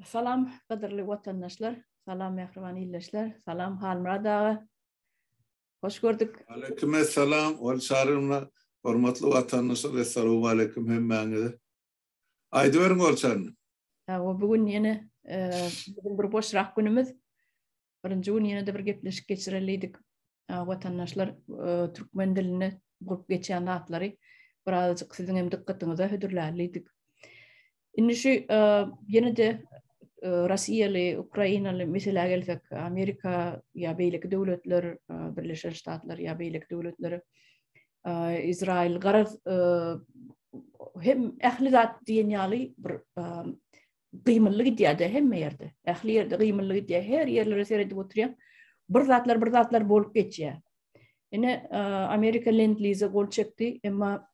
Salam gadyrly watandaşlar, salam mähriban ildeşler, salam Halmyrat aga. Hoş gördük. Aleyküm salam, ol çarymla hormatly watandaşlar, assalamu aleyküm hemmäňize. Aýdyberiň ol çaryny. Hawa, bu gün ýene e, bir boşrak günümiz. birinji gün ýene-de bir gepleşik geçirelidik. Watandaşlar türkmen dilinde bolup geçýän zatlary birazajyk siziň hem dykgatyňyza hödürlälidik. Indi şu ýene-de Russiýaly, Ukrainaly meselä gelsek, Amerika ýa beýleki döwletler, Birleşen Ştatlar ýa beýleki döwletler, Izrail garaz hem ähli zat diýen ýaly bir gymylly gidýär-de hemme ýerde. Ähli ýerde gymylly gidýär. Her ýerlere seredip oturýaň. Bir zatlar, bir zatlar bolup geçýär. Ine, Amerika Lend-Lize gol çekdi, emma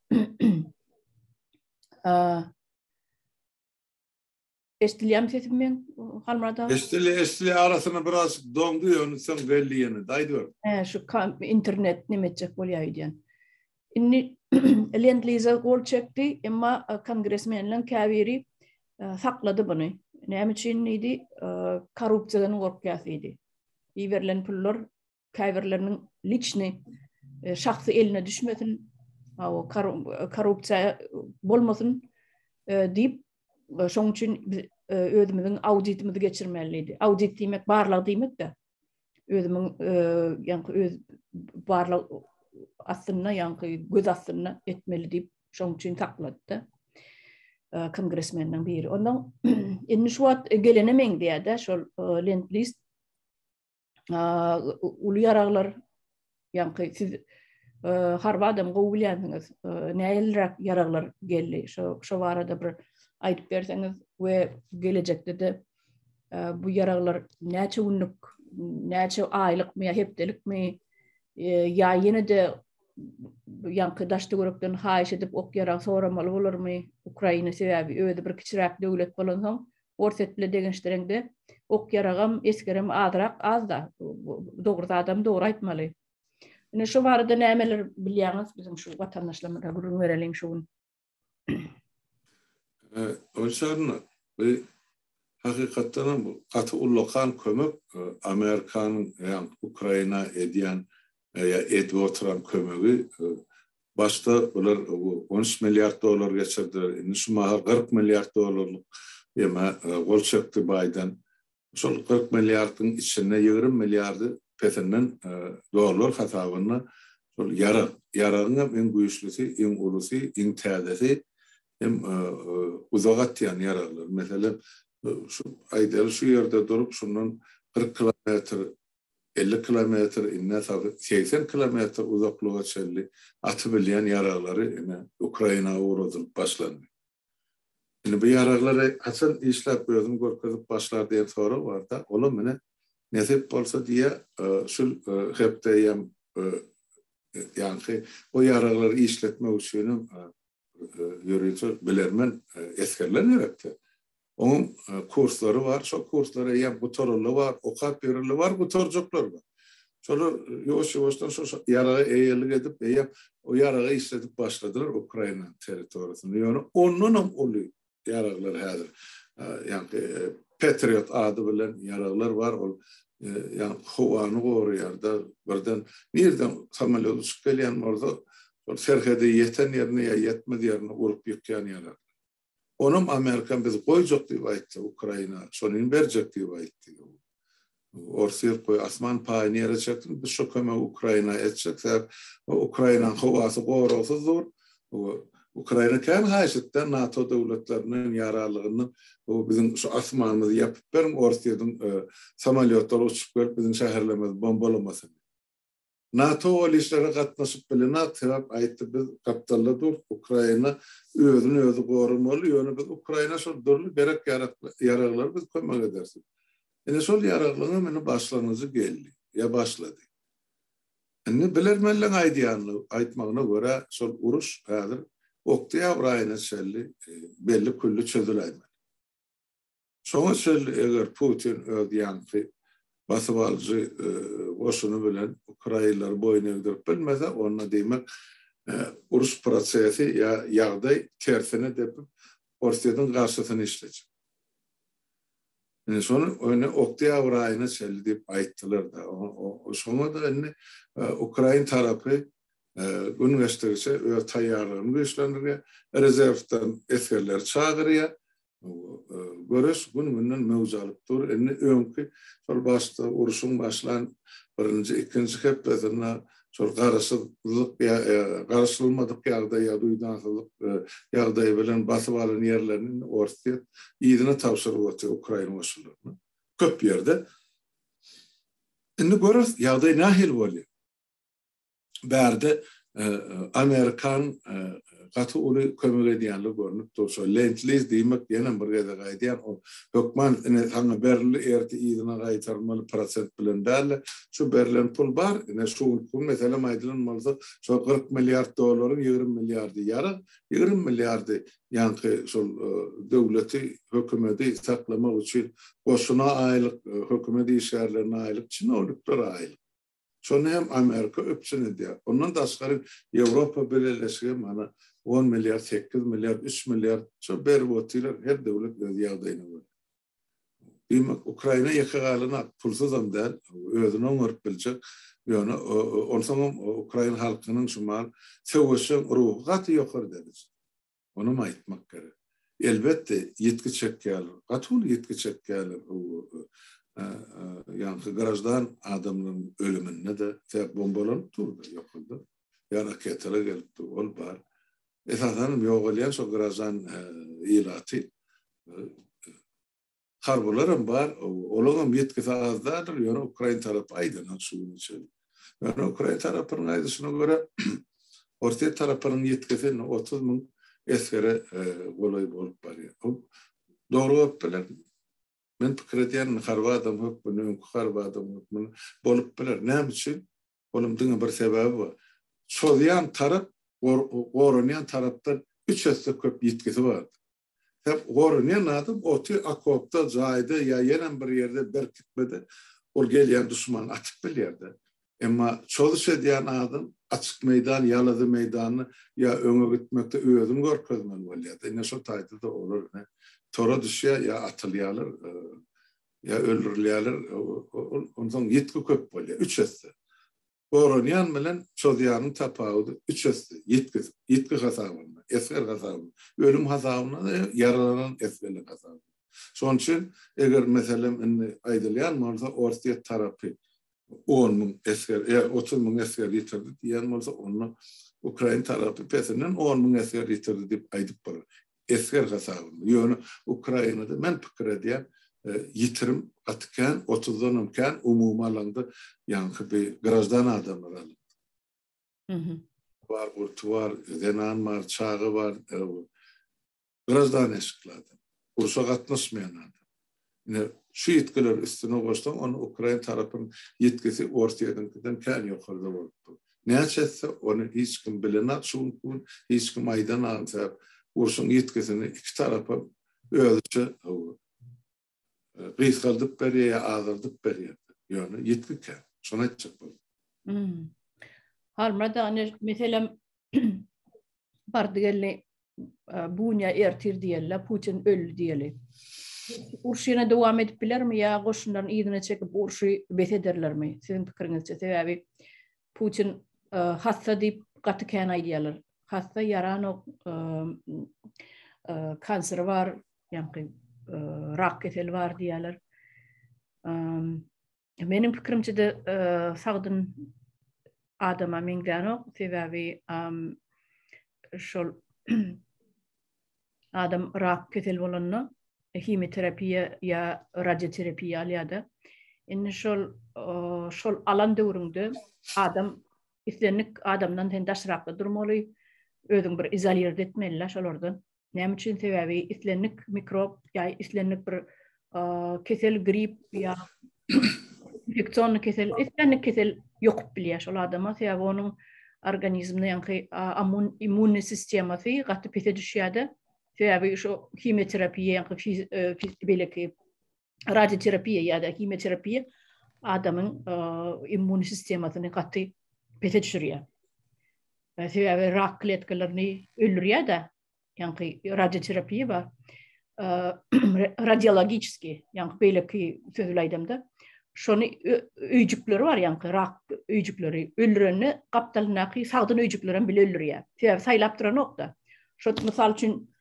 Eşdilýärmi sesim men? Halmurada. Eşdilýär, eşdilýär. Arasyna biraz doňdy, ýöne soň belli ýene. Daýdyber. He, şu internet näme etjek bolýar diýen. Indi Lend-Lize gol çekdi, emma kongresmenleriň käbiri saklady buny. Näme üçin diýdi, korrupsiýadan gorkýas diýdi. Iberilen pullar käbirleriniň liçni şahsy eline düşmesin, korrupsiýa bolmasyn diýip, şonuň üçin biz özümiziň auditimizi geçirmeli diýdi. Audit diýmek barlag diýmek-de. özümiň ýaňky öz barlag astynda ýaňky göz astynda etmeli diýip şoň üçin saklady kongresmeniň biri ondan indi şu wagt gelene meňzeýär-de şol lent list uly ýaraglar Ýaňky siz harby adam gowy bilýänsiňiz. Näleräk ýaraglar geldi? Şo şo barada bir aýdyp berseňiz we gelejekde-de bu ýaraglar näçe günlük, näçe aýlykmy ýa hepdelikmi ýa ýene-de ýaňky daşda görekden haýyş edip ok ýarag soramaly bolarmy Ukraina sebäbi özi bir kiçiräk döwlet bolansoň Orsýet bilen degenşdireňde ok ýaragam esgerem azrak azda dogry zadam dogry aýtmaly. Ine şu barada nämeler bilýäňiz biziň şu watandaşlarymyza gürrüň bereliň şu gün. Öçarna bu hakykatdan hem gaty ullakan kömek Amerikanyň ýa Ukraina edýän ýa edip oturan kömegi başda bular on üç milliard dollar geçirdiler, indi şu mahal kyrk milliard dollarlyk ýeme gol çekdi Baýden. Şol kyrk milliardyň içinde ýigrimi milliardy pesinden dollar hasabynda şol ýarag, ýaragyň hem iň güýçlisi, iň ulusy, iň täzesi hem uzak atýan ýaraglar. Meselem, şu aýdaly şu ýerde durup şundan kyrk kilometr elli kilometr, ine, segsen kilometr uzaklyga çenli aty bilýän ýaraglary, ine, Ukraina ugradylyp başlandy. Indi bu ýaraglary haçan işläp özüni görkezip başlar diýen sorag bar-da, olam, ine, nesip bolsa diýýä, şul hepde ýam, ýaňky o ýaraglary işletmek üçinem ýörite bilermen esgerler gerekdi. Onuň kurslary bar, şo kurslar eýýäm gutaraly bar, okap berileli bar, gutarjaklar bar. Şolar ýuwaş-ýuwaşdan şo ýaraga eýelik edip, eýýäm o ýaragy işledip başladylar Ukraina territoriýasynda. Ýöne ondanam uly ýaraglar häzir, ýagny Petriot ady bilen ýaraglar bar, ol ýagny howany goraýar-da, birden nireden samolýot uçup gelýän bolsa, ol serhede ýeten ýerine ýa ýetmez ýerine urup ýykýan ýaraglar. Onam Amerika bizi goýjak diýip aýtdy, Ukraina şonyny berjek diýip aýtdy. Orsýet goý asman paýy nirä çeksin, biz şo kömegi Ukraina etjek, sebäp Ukrainanyň howasy goragsyz dur. Ukraina kän haýyş etdi NATO döwletlerinden ýa aralygyndan biziň şu asmanymyzy ýapyp beriň, Orsýetiň samolýotlary uçup gelip biziň şäherlerimizi bombalamasyn. NATO ol işlere gatnaşyp bilenok, sebäp aýtdy biz gapdalda durt, Ukraina özüni özi goramaly, ýöne biz Ukraina şol dürli gerek ýaraglary biz kömek ederis. Ine şol ýaraglaryň indi başlangyjy geldi, ýa başlady. Indi bilermenleň aýdýanyna, aýtmagyna görä şol uruş häzir oktýabr aýyna çenli belli külli çözüläýmeli. Şoňa çenli eger Putin öz ýaňky basybalyjy goşuny bilen ukrainleri boýun egdirip bilmese, onda diýmek uruş prosesi ýa ýagdaý tersine depip Orsýetiň garşysyna işlejek. Indi şony indi oktýabr aýyna çenli diýip aýtdylar-da. Şoňa-da indi ukrain tarapy gün geçdigiçe öz taýýarlygyny güýçlendirýär, rezerwden esgerleri çagyrýar. Göreş gün-günden möwç alyp dur. Indi öňki şol başda urşuň başlan birinji, ikinji hepdesinde şol garaşsyzlyk garaşylmadyk ýagdaý ýa duýdansyzlyk ýagdaýy bilen basyp alan ýerlerini indi Orsýet yzyna tabşyryp otyr ukrain goşunlaryna. Köp ýerde. Indi göreris ýagdaý nähili bolýar. bärde amerikan gaty uly kömek edýänligi görnüp dur. Şo Lentliz diýmek ýene bir gezek aýdýan o hökman ine saňa berildi erti yzyna gaýtarmaly prosent bilen däl şu berlen pul bar ine şu gün meselem aýdylan bolsa şo 40 milliard dollaryň 20 milliardy ýarag 20 milliardy ýanky şol döwleti hökümeti saklamak üçin goşuna aýlyk hökümet işgärlerine aýlyk çinownikler aýlyk Şony hem Amerika üpjün edýär. Ondan daşgary Ýewropa Bileleşigi mana on milliard, sekiz milliard, üç milliard şo berip otyrlar, her döwlet öz ýagdaýyna görä. Diýmek, Ukraina ýeke galanok, pulsuzam däl, özüni oňaryp biljek, ýöne onsoňam ukrain halkynyň şu mahaly söweşjeň ruhy gaty ýokary derejede. Onam aýtmak gerek. Elbetde ýitgi çekýärler. Gaty uly ýitgi çekýärler. Ýaňky graždan adamlaryň ölüminde-de tek bombalanyp durdy ýokarda. Ýa raketalar gelip dur, ol bar. Esasanam ýogalýan şo graždan ilaty. harbylaram bar, olaňam ýetgisi az däldir, ýöne ukrain tarapy aýdanok şu güne çenli. Ýöne ukrain tarapynyň aýdyşyna görä, orsýet tarapynyň ýetgisi indi otuz müň esgere golaý bolup barýar. Bu dogry bolup biler. Men pikir edýärin, harby adam hökmünde, öňki harby adam hökmünde bolup biler. Näme üçin? Onuň diňe bir sebäbi bar. Çozýan tarap, goranýan tarapdan üç esse köp ýetgisi bardy. Hep gorunýan adam oty okopda, jaýda ýa ýenem bir ýerde berkitmede ol gelýän duşmany atyp bilýär-de. Emma çozuş edýän adam açyk meýdan, ýalazy meýdanda ýa öňe gitmekde özüni görkezmeli bolýar-da. Ine şo taýda-da olar ine tora düşýär, ýa atylýarlar, ýa öldürilýärler. Onsoň ýitgi köp bolýar. Üç esse. Goranýan bilen çozýanyň tapawudy üç esse, ýitgi, ýitgi hasabynda, esger hasabynda, ölüm hasabynda-da ýok, ýaralanan esgerlik hasabynda. Şonuň üçin, eger, meselem, indi aýdylýan bolsa, Orsýet tarapy on müň esger, ýa otuz müň esger ýitirdi diýen bolsa, onda ukrain tarapy pesinden on müň esger ýitirdi diýip aýdyp bolar. esger hasabynda. Ýöne Ukrainada men pikir edýän ýitirim gaty kän, otuzdanam kän umumy alanda ýaňky bir grajdan adamlar alyndy. Mhm. Bar gurty bar, zenan bar, çaga bar, grajdan eşikli adam. Urşa gatnaşmaýan adam. Ine, şu ýitgileri üstüne goşsaň, onda ukrain tarapyň ýitgisi Orsýetiňkiden kän ýokarda bolup dur. Näçe etse, ony hiç kim bilenok şu günki gün, hiç kim aýdanam, sebäp urşuň ýitgisini iki tarapam özüçe gysgaldyp berýär ýa azaldyp berýär. Ýöne ýitgi kän. Şony aýtjak boldum. Halmyrat aga, meselem, bardy-geldi Bunya ertir diýerler, Putin öldi diýeli. Urşy ýene dowam edip bilermi ýa goşunlaryny yzyna çekip urşy bes ederlermi? Siziň pikiriňizçe sebäbi Putin e, hassa diýip gaty kän aýdýarlar. Hassa ýaranok e, e, kanseri bar, ýa-da rak keseli bar diýýärler. Meniň pikirimçede sagdyn adama meňzänok, sebäbi şol adam rak kesel bolanda himioterapiýa ýa radioterapiýa alýar-da. Indi şol şol alan döwrüňde adam islendik adamdan sen daşrakda durmaly, özüň bir izolirde etmeli-le şolardan. Näme üçin? Sebäbi islendik mikrob ýa islendik bir kesel, grip ýa infeksion kesel, islendik kesel ýokup bilýär şol adama. Sebäbi onuň organizminde ýaňky immun immun sistemasy gaty pese düşýärdi. Sebäbi şu himioterapiýa ýaňky e, beleki radioterapiýa ýa-da himioterapiýa adamyň immun sistemasyny gaty pese düşürýär. Sebäbi rak kletkalaryny öldürýär-de, ýaňky radioterapiýa bar. Radiologiki, ýaňky beýleki söz bilen aýdamda, şony öýjükleri bar, ýaňky rak öýjükleri öldürende gapdalyndaky sagdyn öýjükleri hem bile öldürýär. Sebäbi saýlap duranok-da. Şo mysal üçin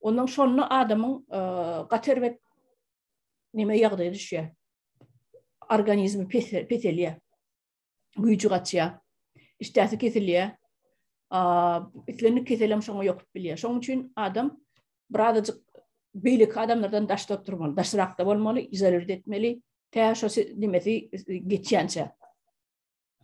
Ondan şonda adamyň gaty erbet näme ýagdaýa düşýär. Organizmi peselýär. Güýji gaçýar. Işdäsi kesilýär. Islendik kesel hem şoňa ýokup bilýär. Şoň üçin adam birazajyk beýleki adamlardan daşda oturmaly, daşrakda bolmaly, izolir etmeli. Tä şo nimesi geçýänçä.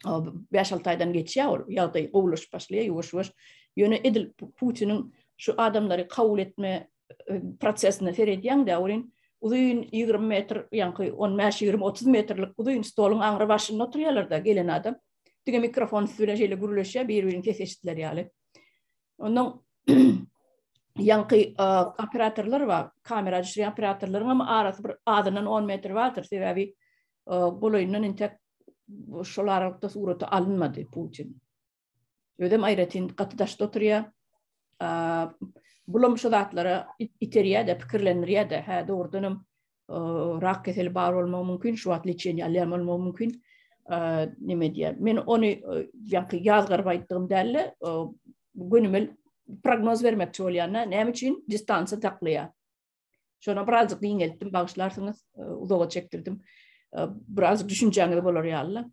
5-6 aýdan geçýär ol ýagdaý gowulaşyp başlaýar ýuwaş-ýuwaş. Ýöne edil Putiniň şu adamlary kabul etme e, prosesine seredýän däwrin uzyn 20 metr, ýaňky 15-20-30 metrlik uzyn stoluň aňry başynda oturýarlar-da gelen adam. Dige mikrofon üstü bilen şeýle gürleşýär, bir-birini ses eşitdiler ýaly. Ondan ýaňky e, operatorlar bar, kamera düşürýän operatorlaryň hem arasy bir azyndan 10 metr bardyr, sebäbi golaýyndan entek şol aralykda suraty alynmady Putin. Özem aýratyn gaty daşda oturýar. Bulam şu zatlara iterýär-de, pikirlendirýär-de. Hä, dogrudan hem rak keseli bar bolmagy mümkin, şu wagt lečeniýe alýan bolmagy mümkin. Näme diýýär? Men ony ýaňky ýazgaryp aýtdygym däl-de, gönümel prognoz bermekçi bolýan-da, näme üçin distansiýa saklaýar? Şona birazcık diňeltdim, bağışlarsınız, e, uzağa çektirdim. E, birazcık düşüncäňiz bolar ýaly.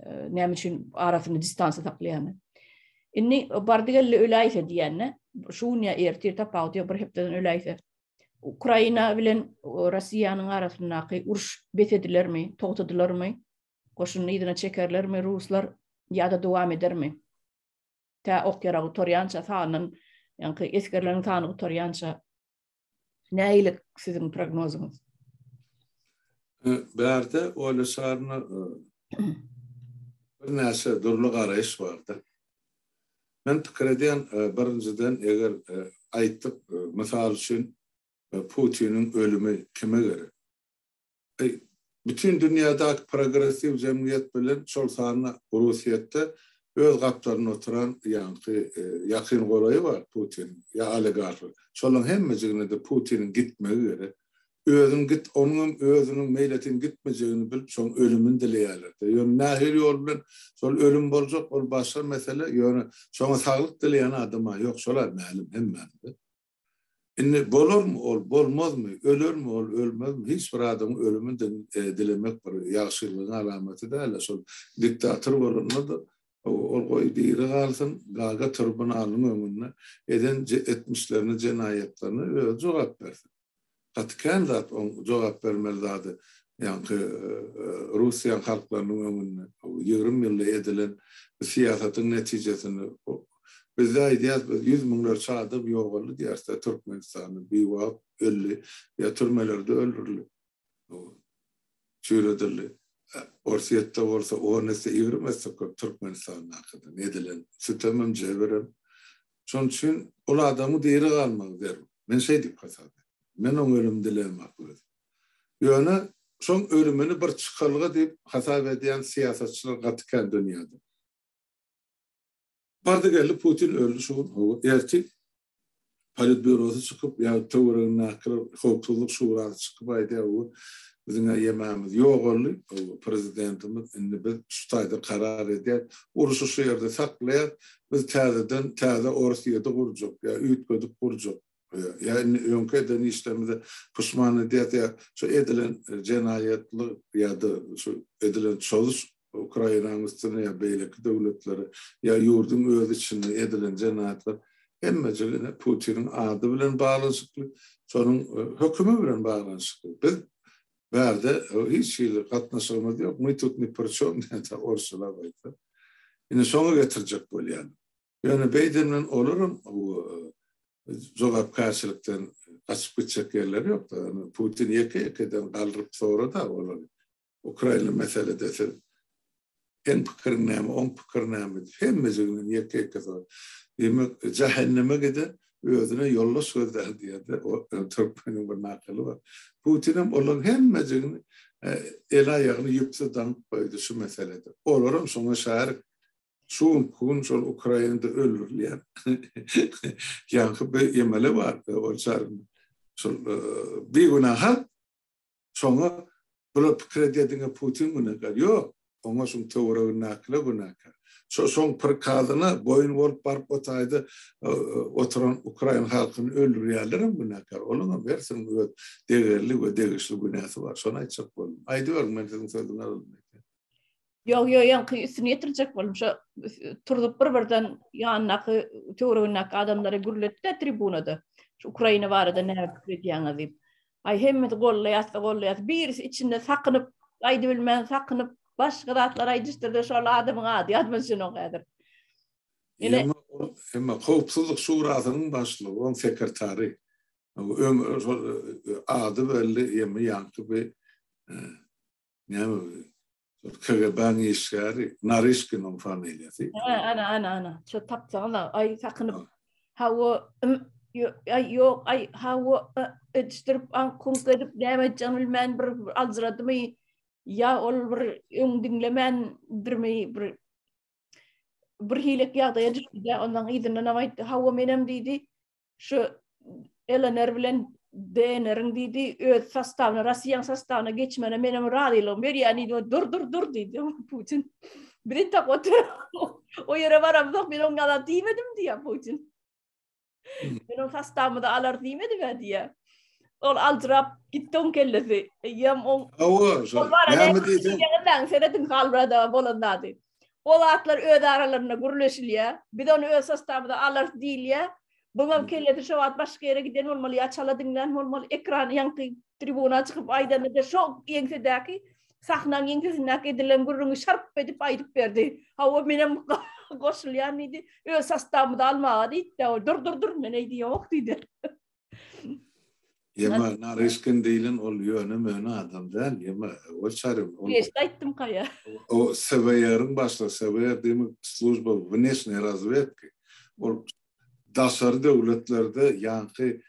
E, näme üçin arasyny distansiýa saklaýany. Indi bardigelle öläýse diýende, şu gün ýa ertir tapawut ýa bir hepdeden öläýse. Ukraina bilen Russiýanyň arasyndaky uruş bes edilermi, togtadylarmy? Goşuny ýerine çekerlermi ruslar ýa-da dowam edermi? Tä ok ýaragy torýança sanyň, ýa-da esgerleriň sanyny torýança Näilik siziň prognozyňyz? Bärde Oýla şaryna bir näçe dürli garaýyş bardy. Men pikir edýän, birinjiden, eger aýtdyk, mysal üçin, Putiniň ölümi kime gerek? bütin dünýädäki progressiw jemgyýet bilen, şol sanda Orussiýetde öz gapdalynda oturan ýaňky ýakyn golaýy bar Putiniň, ýa oligarhy. Şolaryň hemmejigine-de Putiniň gitmegi gerek. Özüň git, onuňam özüniň meýletin gitmejegini bilip, şoň ölümini dileýärler-de. Ýöne nähili ýol bilen şol ölüm boljak, ol başga mesele, ýöne şoňa saglyk dileýän adam-a ýok, şol-a mälim hemmämize. Indi bolarmy ol, bolmazmy, ölermi ol, ölmezmi, hiç bir adamyň ölümini dilemek bir ýagşylygyň alamaty däl-de, şol diktator bolanda-da, ol goý diri galsyn, gaga tribunalynyň öňünde eden etmişlerine, jenaýatlaryna özi jogap bersin. gaty kän zat oň jogap bermeli zady ýaňky russiýan halklarynyň öňünde ýigrimi ýylda edilen syýasatyň netijesini bizde aýdýas biz ýüz müňlerçe adam ýogaldy diýäsda türkmenistanda biwagt öldi ýa türmelerde öldürildi çüýredildi orsýetde bolsa on esse ýigrimi esse köp türkmenistandakydan edilen sütemem jebirem Şonuň üçin ol adamyň diri galmagy zerur. Men şeý diýip hasap et. Men oň ölümini dileýämak özüm. Ýöne şoň ölümini bir çykalga diýip hasap edýän syýasatçylar gaty kän dünýäde. Bardy geldi Putin öldi şu gün, hawa, erti Politbýurosy çykyp ýa töweregindäkiler Howpsuzlyk şurasy çykyp aýdýar, hawa, biziň ýemämiz ýogaldy, hawa, prezidentimiz indi biz şu taýda karar edýäs, urşy şu ýerde saklaýas, Biz täzeden täze Orsýedi gurjak ýa üýtgedip gurjak ýa indi öňki eden işlerimize puşman edýäs ýa şu edilen jenaýatlyk ýa-da şu edilen çozuş Ukrainanyň üstüne ýa beýleki döwletlere ýa ýurduň öz içinde edilen jenaýatlar hemmejigi ine Putiniň ady bilen baglanyşykly, şonuň hökümi bilen baglanyşykly. Biz Bärde hiç hili gatnaşygymyz ýok, my tut ni pri çom diýende orsçalap aýtsa. Indi şoňa getirjek bolýan. Ýöne beýden bilen olaram jogapkärçilikden gaçyp gitjek ýerleri ýok-da. Putin ýeke-ýekeden galyryp sorada olary. Ukraina meselede siz Seň pikirin näme, oň pikiri näme? Hemmejiginiň ýeke-ýeke soraýar. Diýmek, jähenneme giden özüne ýoldaş gözlär diýýär-de, türkmeniň bir nakyly bar. Putinem olaryň hemmejigini el-aýagyny ýüpse daňyp goýdy şu meselede. Olaram şoňa şärik. Şu günki gün şol Ukrainada öldürilýän ýaňky bir emele bar, ol şol bigünä halk. Şoňa bular pikir edýär diňe Putin günäkär. Ýok, oňa şuň töweregindäkiler günäkär. Şo şoň prikazyna boýun bolup baryp o taýda oturan ukrain halkyny öldürýänlerem günäkär. Olaňam hersiniň öz degerli we degişli günäsi bar. Şony aýtjak boldum. Aýdyberiň men siziň sözüňizi alynmaýyn. Ýok, ýok, ýaňky üstüni ýetirjek boldum. Şo turzup bir-birden ýandaky töwregindäki adamlara gürletdi tribunada. Şu Ukraina barada näme pikir edýäňiz diýip. Aý hemmesi gollaýasy, gollaýasy. Birisi içinde sakynyp, aýdyp bilmän sakynyp, başga zatlar aýdyşdyrdy. Şol adamyň ady ýadyma düşenok häzir. Ýene hemme howpsuzlyk şurasynyň başlygy, oň sekretary. Öň şol ady belli, ýaňky bir Näme bu? KGB-niň işgäri, Narişkiniň familiýasy. Hä, ana, ana, ana. Şo tapsaňyz-a, aý, sakynyp. Hawa, ym, ýo, aý, ýok, aý, hawa, a, edişdirip, aň, kuňk edip, näme edýänini bilmän bir aljyradymy, ýa ol bir öň diňlemändirmi, bir bir hilek ýagdaýa düşdi-de, ondan yzyndanam aýtdy, Hawa, menem diýdi, Şu LNR bilen DNR-iň diýdi, öz sastawyna, Russiýanyň sastawyna geçmegine meniň razylygym berýän diýdi. Dur, dur, dur diýdi Putin. Biz entek otur. O ýere baramzok, men oňa da diýmedim diýýär Putin. Hmm. Men oň sastawymy da alar diýmedim ä diýýär. Ol aljyrap gitdi oň kellesi. Eýýäm oň. Hawa, şo. Näme diýseň? Ýa-da seredin halbrada bolan zady. O zatlar öz aralarynda gürleşilýär. Biz ony öz sostabymyza alarys diýilýär. Buňam kellesi şo wagt başga ýere giden bolmaly ýa çala diňlän bolmaly, ekran ýaňky tribuna çykyp aýdanda-da şo ýeňsedäki sahnaň ýeňsesindäki edilen gürrüňi şarp edip aýdyp berdi. Hawa, menem goşulýan diýdi. Öz sostabymyzy almaga diýdi-de, dur-dur-dur, men eýdi ýok diýdi. Ýeme, Naryşkin diýlen ol ýöne-möne adam däl, ýeme, ol çaryň, ol... Geç gaýtdym kaýa. O SVR-iň başlygy, SVR diýme, Slujba wneşnýe razwedki. Ol daşary döwletlerde ýaňky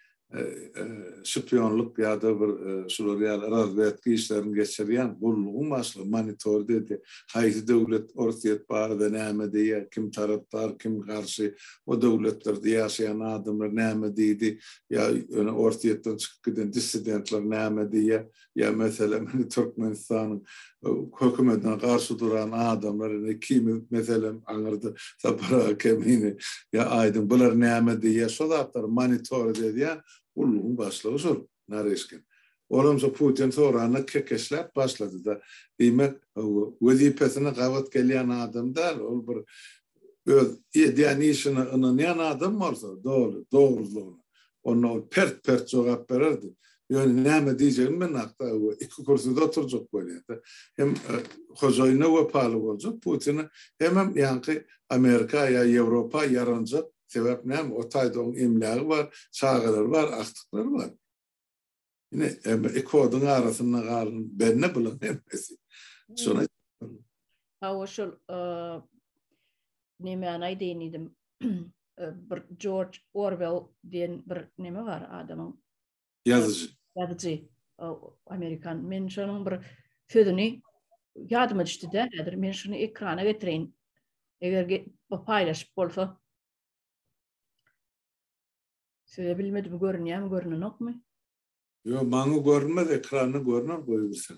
şpionlyk ýa-da bir şular ýaly razwedki işlerini geçirýän gullugyň başlygy, monitor diýdi. Haýsy döwlet Orsýet barada näme diýýär, kim tarapdar, kim garşy, o döwletlerde ýaşaýan adamlar näme diýdi, ýa ýöne Orsýetden çykyp giden dissidentler näme diýýär, ýa meselem indi Türkmenistanyň hökümetine garşy duran adamlar indi kimi meselem aňyrda Sapar aga Kemini ýa Aýdyň bular näme diýýär, şo zatlary monitorit edýän gullugyň başlygy şol. Nareşkin. Olam şo Putin soranda kekeşläp başlady-da. Diýmek, wezipesine gabat gelýän adam däl, ol bir öz edýän işine ynanýan adam bolsa, doly dogrudygyna, onda ol pert-pert jogap bererdi. Ýöne näme diýjegini bilmänok-da, iki kürsüde oturjak bolýa-da. Hem hojaýyna wepaly boljak, Putine, hemem ýaňky Amerika ýa Ýewropa ýaranjak Sebäp näme? O taýda onuň emlägi bar, çagalary bar, agtyklary bar. Ine, emma iki oduň arasynda galan bende bulan hemmesi. Şonuň Hawa şol nemäni aýdaýyn diýdim. Bir George Orwell diýen bir neme bar adamyň Ýazyjy. Ýazyjy. Amerikan. Men şonuň bir sözüni ýadyma düşdi de, häzir men şuny ekrana getireýin. Eger paýlaşyp bolsa. Söze bilmedim, görünýärmi, görünenokmy? Ýok, maňa görünmez, ekranda görner, goýbersen.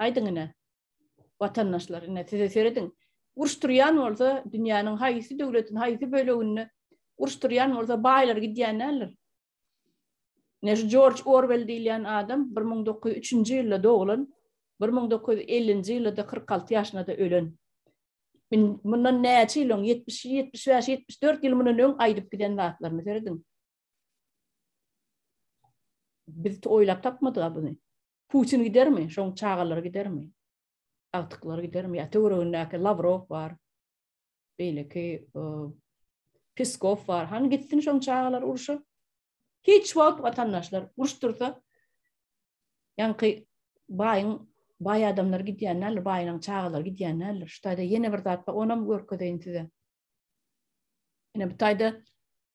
Aýdyň ine, watandaşlar, ine size serediň. Uruş turýan bolsa, dünýäniň haýsy döwletiň haýsy böleginde uruş turýan bolsa baýlar gidýän däldir. Ine şu Jorj Orwell diýilýän adam bir müň dokuz ýüz üçünji ýylda doglan, bir müň dokuz ýüz ellinji ýylda-da kyrk alty ýaşynda-da ölen. Mundan näçe ýyl öň, ýetmiş, ýetmiş bäş, ýetmiş dört ýyl mundan öň aýdyp giden zatlaryny serediň. Biz oýlap tapmadyk-a buny. Putin gidermi? Şoň çagalary gidermi? Agtyklary gidermi? Ýa töweregindäki Lawrow bar. Beýleki Peskow bar. Hany gitsin şoň çagalar urşa. Hiç wagt watandaşlar uruş dursa ýaňky baýyň baý adamlar gidýän näler, baýynyň çagalary gidýän näler. Şu taýda ýene bir zat bar, onam görkezeýin size. Ine bu taýda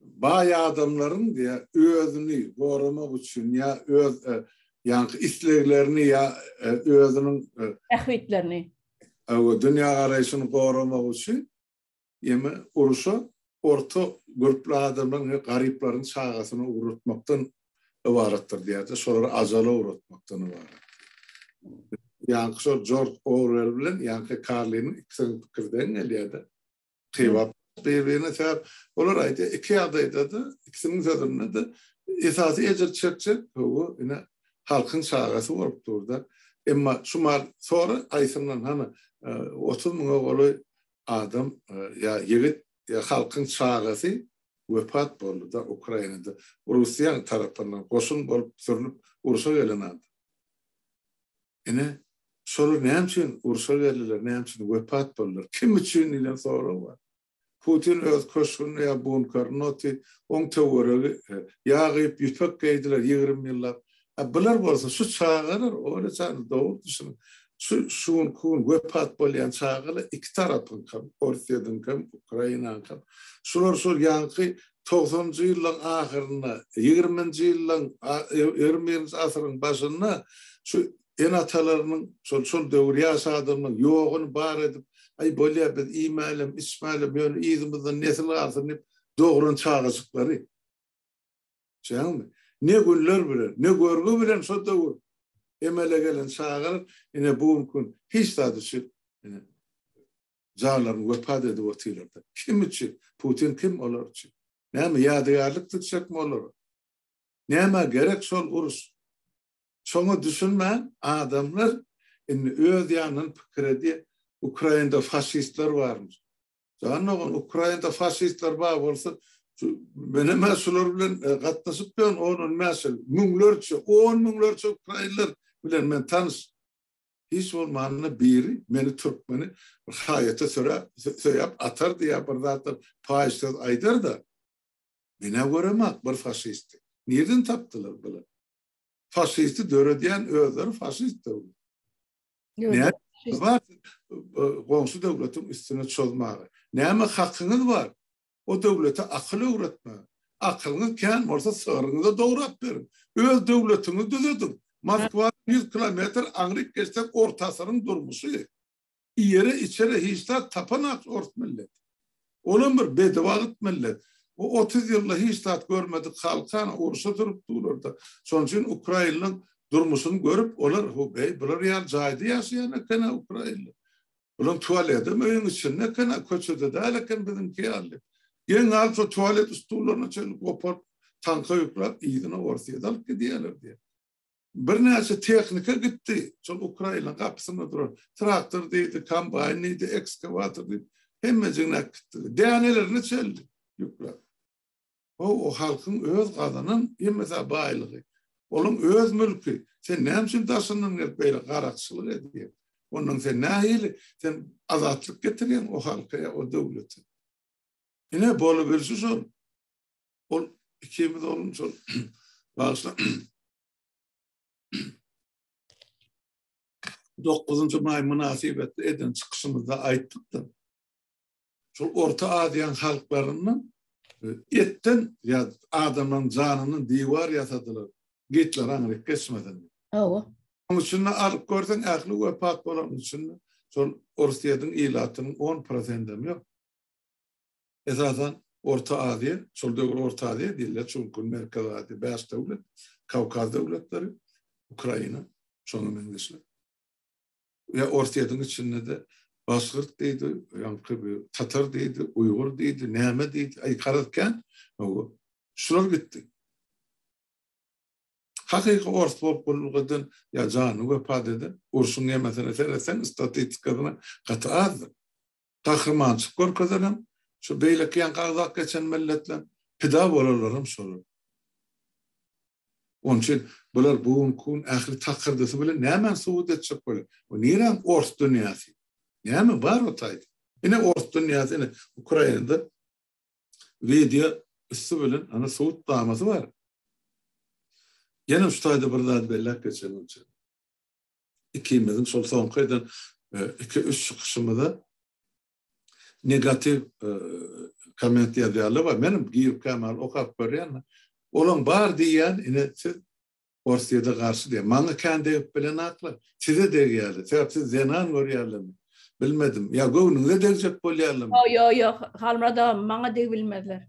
Baý adamlaryň diýä özüni goramak üçin ýa öz ýaňky isleglerini ýa özüniň bähbitlerini we dünýägaraýşyny goramak üçin ýeme uruşa orta görkli adamlaryň we garyplaryň çagasyny ugratmakdan ybaratdyr diýýärdi. Şolary ajala ugratmakdan ybarat. Ýaňky şol Jorj Orwell bilen ýaňky Karliniň ikisiniň pikiri deň gelýärdi. Kybap bir-birine sebäp olar aýdýar, iki ýagdaýda-da, ikisiniň sözünde-de esasy ejir çekjek bu ine halkyň çagasy bolup dur-da. Emma şu mal sora haýsyndan hany otuz müňe golaý adam ýa ýigit ýa halkyň çagasy wepat boldy-da Ukrainada Russiýanyň tarapyndan goşun bolup sürlüp urşa gelen adam. Ine, şolar näme üçin urşa geldiler, näme üçin wepat boldular, kim üçin diýlen sorag bar. Putin öz köşgünde ýa bunkerinde oty, oň töweregi ýa gyýyp, ýüpek geýdiler ýigrimi ýyllap. A bular bolsa, şu çagalar, Olýa janym, dogry düşüniň, şu şu günki gün wepat bolýan çagalar iki tarapyňkam, Orsýetiňkam, Ukrainaňkam, şular şol ýaňky togsanjy ýyllaryň ahyrynda, ýigriminji ýyllaryň, ýigrimi birinji asyryň başynda şu ene-atalarynyň, şol, şol döwür ýaş adamlaryň ýoguny bar edip, Aý, bolýar, biz iýmälem, içmälem, ýöne yzymyzdan nesil galsyn diýip dogran çagajyklary. Düşýäňizmi? Ne günler bilen, ne görgi bilen şo döwür emele gelen çagalar ine bu gün hiç zady şu janlaryny wepat edip otyrlar-da. Kim üçin? Putin kim olar üçin? Näme, ýadygärlik dikjekmi olara? Nämä gerek şol uruş? Şoňa düşünmän, adamlar indi öz ýanyndan pikir edýär, Ukrainada faşistler barmyş. Jan dogan, Ukrainada faşistler bar bolsa, menem-ä şular bilen gatnaşyp ýörün, on-on bäş ýyl. Müňlerçe, on müňlerçe ukrainler bilen men tanyş. Hiç bolmanda biri meni türkmeni bir haýata söräp, söýäp atardy ýa bir zatlar paýyş söz aýdardy. Menä göremok bir faşisti. Nirden tapdylar bular? Faşisti döredýän özleri faşist döwlet. Näme faşist? Goňşy döwletiň üstüne çozmaga. Näme hakyňyz bar? O döwlete akyl öwretme. Akylyňyz kän bolsa, sygryňyza dograp beriň. Öz döwletiňizi düzediň. Moskwadan ýüz kilometr aňryk geçsek, orta asyryň durmuşy. Iýere-içere hiç zat tapanak ors milleti. Olam bir bedebagyt millet. Bu otuz ýylda hiç zat görmedik halkana urşa durup durlar-da. Şonuň üçin ukrainlaryň durmuşyny görüp, olar, Ho-beý, bular ýaly jaýda ýaşaýan eken-ä ukrainler. Olaň tualedem öýüň içinde eken-a, köçede däl eken biziňki ýaly. Geň alyp şo tualet stullaryna çenli goparyp, tanka ýüklap, yzyna Orsýete alyp gidýärler diýýär. Birnäçe tehnika gitdi, şol Ukraina gapysynda duran traktor diýdi, kombaýn diýdi, ekskawator diýdi, hemmejigini äkitdiler. Dänelerini çenli ýüklap. O o halkyň öz gazanan hemmesa baýlygy. Olaň öz mülki. Sen näme üçin daşyndan gelip beýle garakçylyk edýäň? Ondan sen nähili? Sen azatlyk getirýäň o halka ýa o döwlete. Ine bolubilşi şol. Ol ikimiz oglum şol bagşla 9-njy maý mynasybetli eden çykyşymyzda aýtdykda. Şol Orta Aziýanyň halklaryndan e, etden ýa adamlaryň janyndan diwar ýasadylar. Gitler aňryk geçmedin. Hawa. Onuň üçin alyp görseň ähli wepat bolan üçin şol Orsyýetiň ilatynyň 10% hem ýok. Esasan Orta Aziýa, şol döwür Orta Aziýa diýilýär, çünki Merkezi Aziýa bäş döwlet, Kawkaz döwletleri, Ukraina, şonuň meňzeşler. Ýa Orsýetiň içinde-de Başgyrt diýdi, ýaňky bir Tatar diýdi, Uýgur diýdi, näme diýdi, aý garaz kän, hawa, şular gitdi. Hakyky ors bolup gulluk eden ýa janyny wepat eden, urşuň ýemesine seretseň, statistikasyna gaty azdyr. gahrymançylyk görkezenem şu beýleki ýanka agzap geçen milletler, pida bolanlaram şolar. Onuň üçin bular bu gün kun ähli takyrdysy bilen nämäni subut etjek bolýar? Bu niräň ors dünýäsi? Näme bar o taýda? Ine ors dünýäsi ine Ukrainada wideo üsti bilen ana sud damasy bar. Ýene şu taýda bir zat belläp geçelim üçin. ikimiziň şol soňky eden iki-üç çykyşymyza negatiw komment ýazýarlar we men girip kämali okap görýän. Olaň bar diýýän, ine siz Orsýete garşy diýýän. Maňa kän degip bilen aklar. Size degýärler. Sebäp siz zenan görýärlermi? Bilmedim. Ýa göwnüňize degjek bolýarlarmy? Ýok, ýok, ýok. Halmyrat aga, maňa degip bilmezler.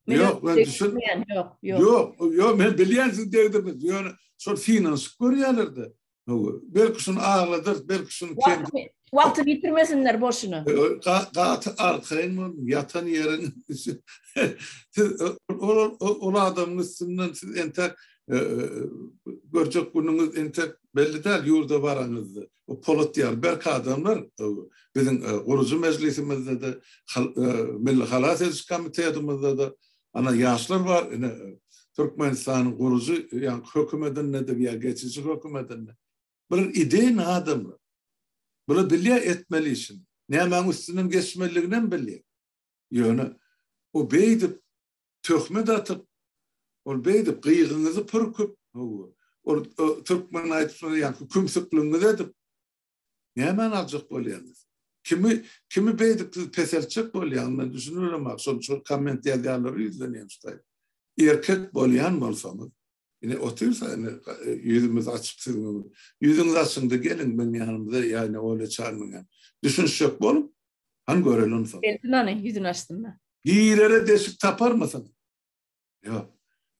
Yok, ben düşün. Yok, yok. Yok, yok, ben bilýän siz degdirmez. Ýöne şol synanyşyp görýärler-de. Belki şunu ağladyr, belki şunu kendi... Vakti bitirmesinler boşuna. Gatı arkayın mı? Yatan yerin. siz o adamın üstünden siz entek e, e, görcek gününüz entek belli değil yurda varanızda. Bu Polat ýaly berk adamlar biziň gurujy mejlisimizde-de, Milli halas ediş komitetimizdede ana ýaşlar bar, ine Türkmenistanyň gurujy ýaňky hökümetinde-de ýa geçiji hökümetinde. Bular ideýny adamlar. Bular bilýär etmeli işini. Nämäň üstünden geçmeliliginem bilýär. Ýöne bu beýdip töhmet atyp, ol beýdip gyýgyňyzy pürküp, hawa, ol türkmen aýdyşlary ýaly kümsükligiňizi edip, nämani aljak bolýaňyz? Kimi, kimi beýdip siz peseltjek bolýaňyz? Men düşüniberemok, şol, şol komment ýazýanlara ýüzlenýän şu taýda. Erkek bolýan bolsaňyz, Ine otyrsa ine ýüzümiz açyk siziň. Ýüzüňiz açyldy geliň meň ýanymda ýa-da Olýa Çarmyňa. Düşünişjek boluň. Han görelim onsoň. Gelsin ony ýüzüni açsynda. Girere deşik taparmysyň? Ýok.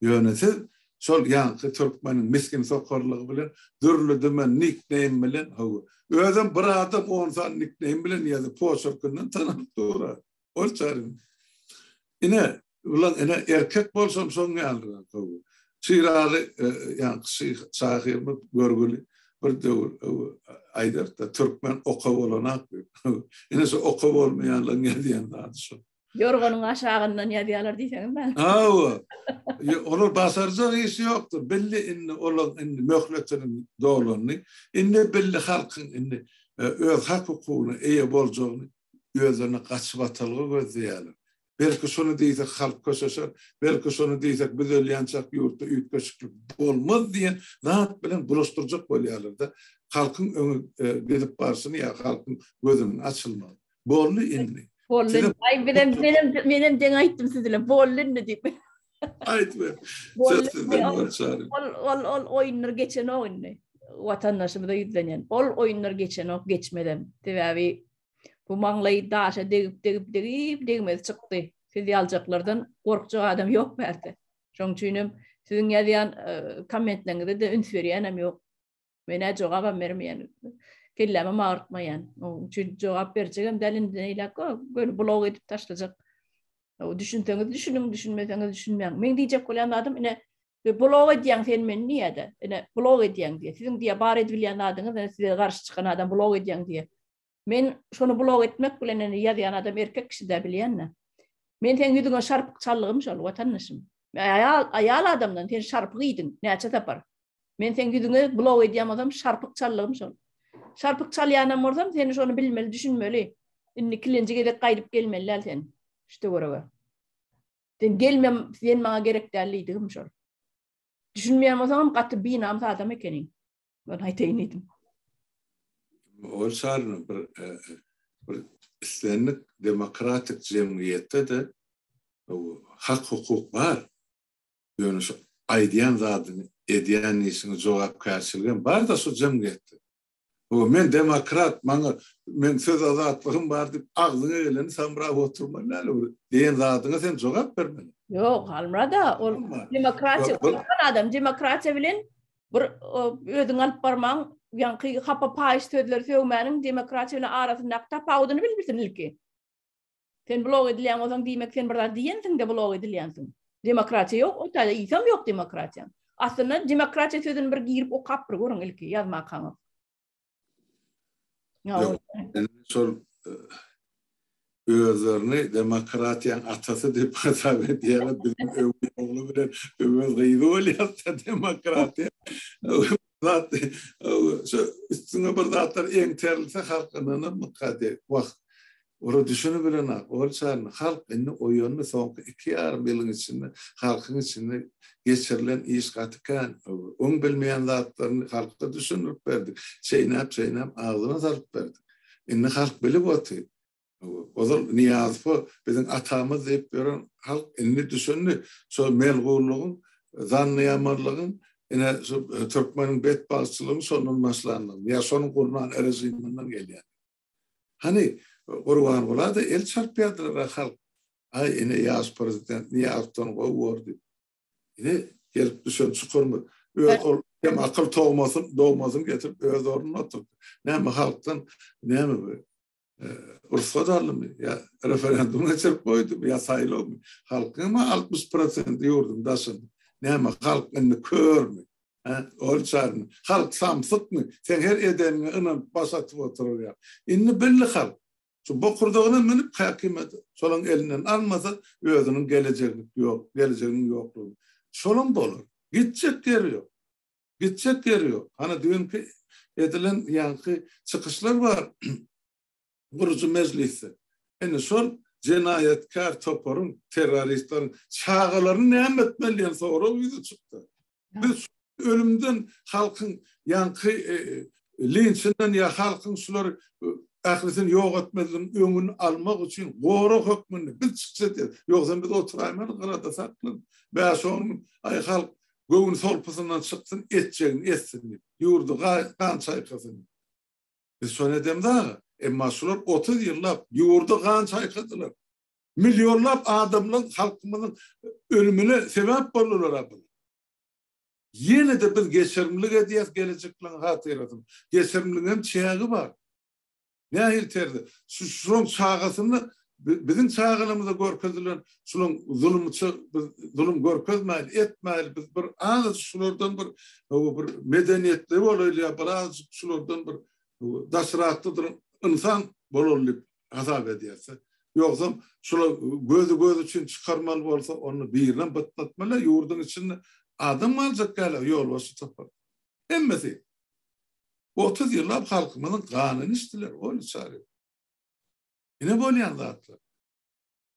Ýöne siz şol ýaňky türkmeniň misgin sokarlygy bilen dürli-dümen nickname bilen hawa. Özem bir adam on sany nickname bilen ýazyp poçerkinden tananyp durar. Ortaryň. Ine, ulan ene erkek bolsam soň ýalyra gowy. Çyraly, e, ýaňky şyh, şahyrymyz görgüli bir döwür e, aýdarda türkmen oka bolanak diýip. Ine şu oka bolmaýanlaryň ýazýan zady şu. Ýorganyň aşagyndan ýazýarlar diýseňiz ben. Hawa. Olar basarjak işi ýokdur. Belli indi olar indi möhletiniň dolandy. Indi belli halkyň indi e, öz hak hukugyna eýe boljagyny özlerine gaçybatalga gözleýärler. Belki şony diýsek halk köşeşer, belki şony diýsek biz ölýänçäk ýurtda üýtgeşiklik bolmaz diýen zat bilen bulaşdyrjak bolýarlar-da, halkyň öňe gidip barşyny ýa halkyň gözüniň açylmagyny. Boldy indi. Boldy indi. Aý, menem, menem, menem deň aýtdym siz bilen. Boldy indi diýip. Aýt be. Söz sizden bar çary. Ol ol ol oýunlar geçenok indi. Watandaşymyza ýüzlenýän. Ol oýunlar geçenok, geçmedem. Sebäbi bu maňlaýy daşa degip degip degip degmez çykdy. Siz ýaljaklardan gorkjak adam ýok bärde. Şoň üçin hem siziň ýazýan e, kommentleriňize de üns berýänem ýok. Men ä jogabam bermeýän. Kellämi magyrtmaýan. Onuň üçin jogap berjegem däl indi neýläk go, göni blog edip taşlajak. O düşünseňiz düşünüň, düşünmeseňiz düşünmäň. Men diýjek bolýan adam ine e, blog edýän sen men niýede? Ine blog edýän diýe. Siziň diýe bar edip bilýän adyňyz, ine size garşy çykan adam blog edýän diýe. Men şony blog etmek bilen indi ýazýan adam erkek kişi-dä bilýän-dä. Men seň ýüzüňe şarpyk çallygym şol, watandaşym. Aýal, aýal adamdan sen şarpyk iýdiň, näçe sapar. Men seň ýüzüňe blog edýän bolsam, şarpyk çallygym şol. Şarpyk çalýanam bolsam, sen şony bilmeli, düşünmeli. Indi ikilenji gezek gaýdyp gelmeli däl sen şu töwerege. Sen gelmem, sen maňa gerek däl diýdigim şol. Düşünmeýän bolsaňam gaty binamys adam ekeniň. Ben aýtaýyn diýdim. Ol şaryny bir e, bir islendik demokratik jemgyýetde de hak hukuk bar. Ýöne şu aýdýan zadyny, edýän işini jogapkärçiligi hem bar da şu jemgyýetde. O men demokrat, maňa men söz azatlygym bar diýip, agzyňa geleni samrap oturma näle bir diýen zadyňa sen jogap bermeli. Ýok, Halmurada, ol demokratiýa, adam demokratiýa bilen bir özüň alyp barmaň ýaňky hapa paýyş sözleri sögmäniň demokratiýa bilen arasyndaky tapawudyny bilipsin ilki sen blok edilýän bolsaň diýmek sen bir zat diýensiňde blok edilýänsiň demokratiýa ýok o taýda isam ýok demokratiýa aslynda demokratiýa sözüni bir girip okap bir görüň ilki ýazmakaňyz Ýok. Şol e, özlerini demokratiýanyň atasy diýip hasap edýärler. Biziň öwez ogly bilen öwez gyzy bolýarsa demokratiýa. Zat şu üstüne bir zatlar eňterilse halkyndan mykady. Wah, Ora düşeni bilenak, ol çany halk indi oýandy, soňky iki ýarym ýylyň içinde halkyň içinde geçirilen iş gaty kän. Oň bilmeýän zatlaryny halka düşündirip berdik, çeýnäp-çeýnäp agzyna salyp berdik. Indi halk bilip otyr. Ozal Nyýazowa biziň atamyz diýip ýören halk indi düşündi, şol melgunlygyň, zannyýamanlygyň, ine, şu türkmeniň betbagtçylygyň şondan başlandygyny, ýa şonuň gurnan režiminden gelýändigini. Hany, Gurbangula-da el çarpýardylar-a halk, Aý, ine, ýaş prezident Nyýazowdan gowy bor diýip. Ine, gelip düşen çukurymyz. Öz ol kem akyl togmasyn, dogmasyny getirip öz ornuna oturtdy. Näme, halkdan, näme bu, rugsat aldymy ýa referendum geçirip goýdumy ýa saýlawmy? Halkyň hem altmyş prosenti ýurduň daşynda. Näme, halk indi körmi? Hä, ol çagyň. Halk samsykmy? Seň her edeniňe ynanyp baş atyp oturýar. Indi bildi halk. Şu bokurdagyna münüp häkimiýeti şolaň elinden almasa, özüniň gelejeglik ýok, gelejeginiň ýoklugyny. Şolam bolar. Gitjek ýeri ýok. Gitjek ýeri ýok. Hany düýnki edilen ýaňky çykyşlar bar. gurujy mejlisde ine şol jenaýatkär toparyň, terroristleriň çagalaryny näme etmeli diýen sorag ýüze çykdy. Biz ölümden halkyň ýaňky linçinden ýa halkyň şular ählisini ýok etmezligiň öňüni almak üçin gorag hökmünde biz çykyş edýäris. Ýogsam biz oturaýmaly gyrada saklan. Bäş-on gün aý halk göwün solpusyndan çyksyn, etjegini etsin diýip, ýurdy gan çaýkasyn. Biz şony edemz aga. Emma şular otuz ýyllap ýurda gan çaýkadylar. Millionlap adamlaryň, halkymyzyň ölümine sebäp boldular a bular. Ýene-de biz geçirimlik edýäs gelejekleriň hatyrasyna. Geçirimligiň hem çägi bar. Nähili terzde? Şu şularyň çagasyny Biziň çagalymyza görkezilen şulaň zulumça biz zulum görkezmäýil, etmäýil, biz bir azajyk şulardan bir bir medeniýetli bolaýly ýa bir azajyk şulardan bir daşrakda ynsan bolaly diýip hasap edýäs. Ýogsam şular gözi göz üçin çykarmaly bolsa, onda birinem bytnatmaly, ýurduň içinde adam galjak däl a ýolbaşçy topar. Hemmesi. Otuz ýyllap halkymyzyň ganyny içdiler, ony çary ýok. Ine bolýan zatlar.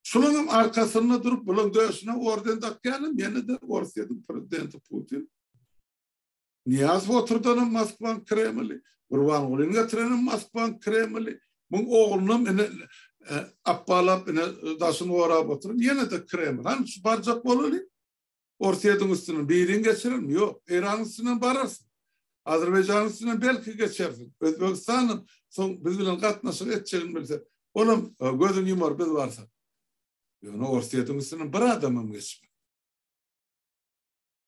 Şularyň arkasynda durup, bularyň döşüne orden dakýanam ýene-de Orsýetiň prezidenti Putin. Niýazow oturdanam Moskwanyň Kremli, Gurbangulyny getirenem Moskwanyň Kremli, muň oglunam ine e, appalap ine daşyny gorap oturyp, ýene-de Kreml. Hany şu barjak bolaly. Orsýetiň üstünden birin geçerin, ýok, Eýranyň üstünden bararsyň. Azerbaýjanyň üstünden belki geçersiň. Özbegistanam soň biz bilen gatnaşyk etjegini bilse, olam gözüni ýumar biz barsak. Ýöne Orsýetiň üstünden bir adamam geçmez.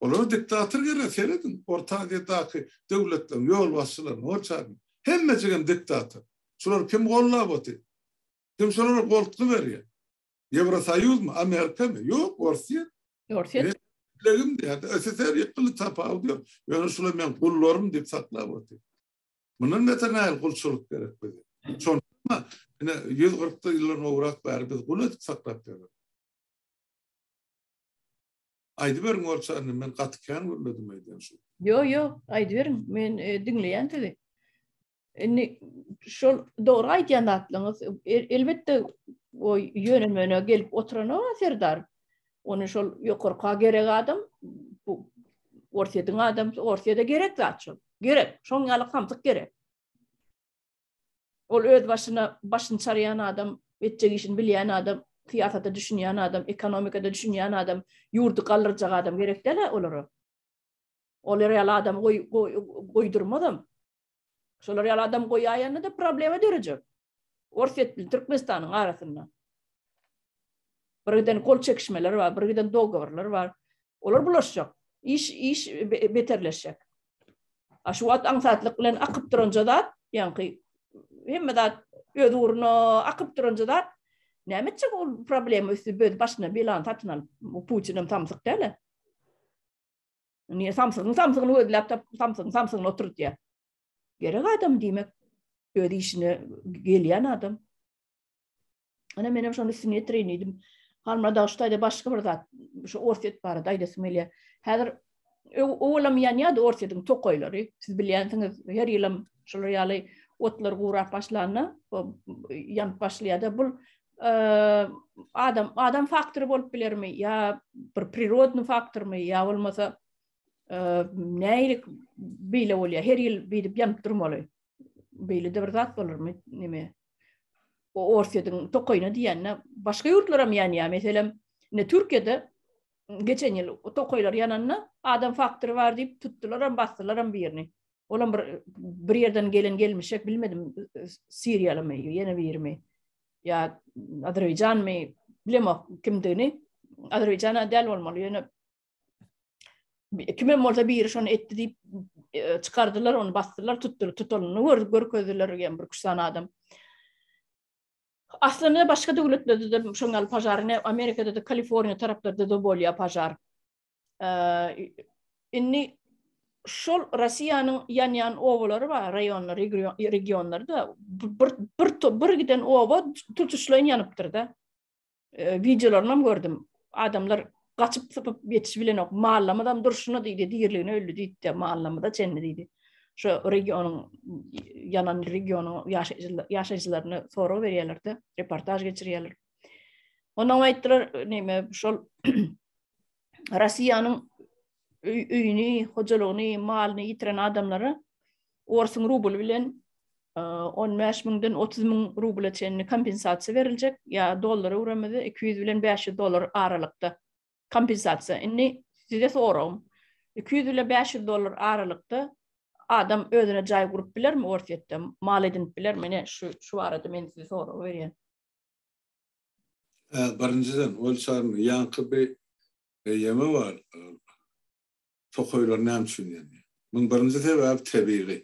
Olara diktator gerek, serediň, Orta Aziýadaky döwletleriň ýolbaşçylaryna, hojalyna. Hemmejigem diktator. Şulary kim gollap otyr? Kim şolara goltgy berýär? Ýewrosoýuzmy, Amerikamy? Ýok, Orsiýa. Orsiýa. Legim diýýär. SSR ýykyldy, tapawudy ýok. Ýöne şular men gullarym diýip saklap otyr. Mundan beter nähili gulçulyk gerek bize? Şonda ine 140 ýyldan gowrak bäri biz gul edip saklap ýörüs. Aýdyberiň orçany, men gaty kän gürledim aýdýan şu. Ýok, ýok, aýdyberiň. Men e, diňleýän sizi. Indi şol dogry aýdýan zatlaryňyz. El, elbetde o ýönemene gelip oturana serdar. Ony şol ýokarka gerek adam bu Orsýetiň adam, Orsýede gerek zat şol. Gerek, şoň ýaly hamsyk gerek. Ol öz başyna başyny çarýan adam, etjek işini bilýän adam, syýasata düşünýän adam, ekonomikada düşünýän adam, ýurdy galdyrjak adam gerek däl olara. Olar ýaly adam goý, goýdurmazam. Şolar ýaly adam goýaýanda-da problema dörejek. Orsýet bilen Türkmenistanyň arasynda. Birgiden gol çekişmeler bar, birgiden dogoworlar bar. Olar bulaşjak. Iş, iş beterleşjek. A şu wagt aňsatlyk bilen akyp duran zat, ýaňky hemme zat öz ugruna akyp duran zat. Näme etjek ol problema üsti böz başyna belany satyn alyp, Putin hem samsyk däl-ä. Niye samsygyň samsygyny gözläp tapyp samsygyň samsygyny oturtýar. Gerek adam diýmek öz işine gelýän adam. Ana menem şony üstüne ýetirin diýdim. Halmra dagşytaýda başga bir zat şu Orset barada aýdasym gelýär. Häzir owalam ýanýardy Orsetiň tokaýlary. Siz bilýänsiňiz, her ýylam şular ýaly otlar gurap başlanda, ýanyp başlaýardy. Bu adam adam faktory bolup bilermi ýa bir prirodny faktormy ýa bolmasa näilik beýle bolýar her ýyl beýdip ýanyp durmaly beýle de bir zat bolarmy neme o orsýetiň tokaýyna diýende başga ýurtlar hem ýanýar meselem ne türkiýede geçen ýyl tokaýlar ýananda adam faktory bar diýip tutdular hem basdylar hem birini Olam bir bir ýerden gelen gelmişek bilmedim Siriýalymy ýene birimi ýa Azerbaýjanmy bilemok kimdigini Azerbaýjana däl bolmaly ýöne kimem bolsa biri şony etdi diýip e, çykardylar ony basdylar tutdular tutulany gör görkezdiler ýa bir küçsan adam Aslynda başga döwletlerde de şoňal pajar ne Amerikada da Kaliforniýa taraplarda da bolýar pajar Indi şol Russiýanyň ýanýan obalary bar, raýonlar, regionlarda bir bir bir giden oba tutuşlaýyn ýanypdyr-da. E, Wideolaryny hem gördüm. Adamlar gaçyp sypyp ýetişip bilenok. Mallamyz hem durşuna diýdi, diýirligine öldi diýdi, mallamyza çenli diýdi. Şu regionyň ýanan regionyň ýaşaýjylaryna sorag berýärler-de, reportaž geçirýärler. Ondan aýtdylar, näme, şol Russiýanyň öýüni, hojalygyny, malyny ýitiren adamlara orsuň rubly bilen 15 müňden 30 müň rubla çenli kompensasiýa beriljek, ýa dollara öwrenmede 200 bilen 500 dollar aralykda kompensasiýa. Indi size soragym, 200 bilen 500 dollar aralykda adam özüne jaý gurup bilermi Orsýetde, mal edinip bilermi? Ine şu şu barada men size sorag berýän. Birinjiden, ol çaryň ýaňky bir eýýamy bar, tokaýlar näme üçin ýanýar? Munuň birinji sebäbi tebigy.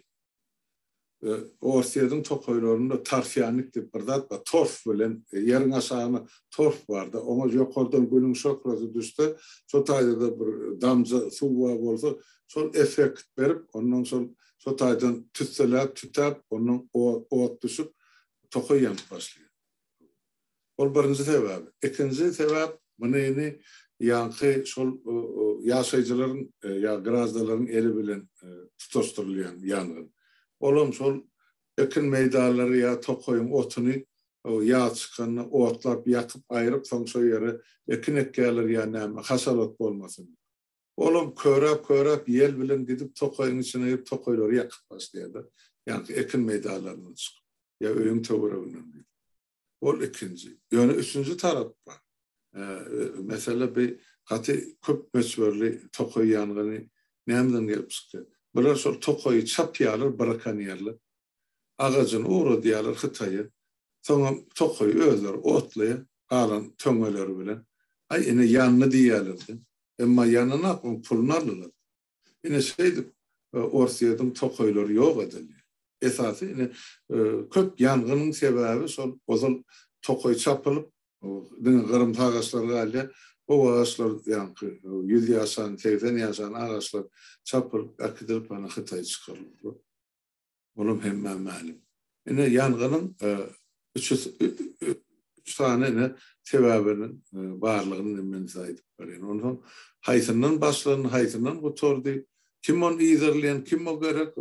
Orsýetiň tokaýlarynda torfýannik diýip bir zat bar, torf bilen ýeriň aşagyna torf bar-da, oňa ýokardan günüň şöhlesi düşse, şo taýda-da bir damja suw bar bolsa, şol effekt berip, ondan soň şo taýdan tüsseläp, tütäp, ondan ot düşüp, tokaý ýanyp başlaýar. Ol birinji sebäp. Ikinji sebäp, muny indi ýaňky şol ýaşaýjylaryň ýa graždanlaryň eli bilen tutaşdyrylýan ýangyn. Olam şol ekin meýdanlary ýa tokaýyň otuny ýaz çykanda otlap, ýakyp, aýryp, soň şo ýere ekin ekýärler ýa näme, haşalat bolmasyn diýip. Olam köräp-köräp ýel bilen gidip tokaýyň içine girip tokaýlary ýakyp başlaýarlar. Ýaňky ekin meýdanlaryndan çykyp. Ýa öýüň töwereginden girip. Ol ikinji. Ýöne üçünji tarap bar. Mesele bi gaty köp möçberli tokaý ýangyny nämden gelip çykýar? Bular şol tokaýy çapýarlar brakonýerler. Agajyny ugradýarlar Hytaýa. Soňam tokaýy özleri otlaýar galan töňňeleri bilen. Aý ine ýandy diýýärler-de. Emma ýanynda oň puluny aldylar. Ine şeýdip Orsýediň tokaýlary ýok edildi. Esasy ine köp ýangynyň sebäbi şol ozal tokaý çapylyp diňe gyrymsy agaçlar galýar. Gowy agaçlar ýaňky ýüz ýaşan, segsen ýaşan agaçlar çapylyp äkidilip ana Hytaýa çykaryldy. Olam hemmä mälim. Ine, ýangynyň üç sany ine sebäbiniň barlygyny men size aýdyp berýän. Onsoň haýsyndan başlandy, haýsyndan gutardy, kim ony yzarlaýan, kim o gerek?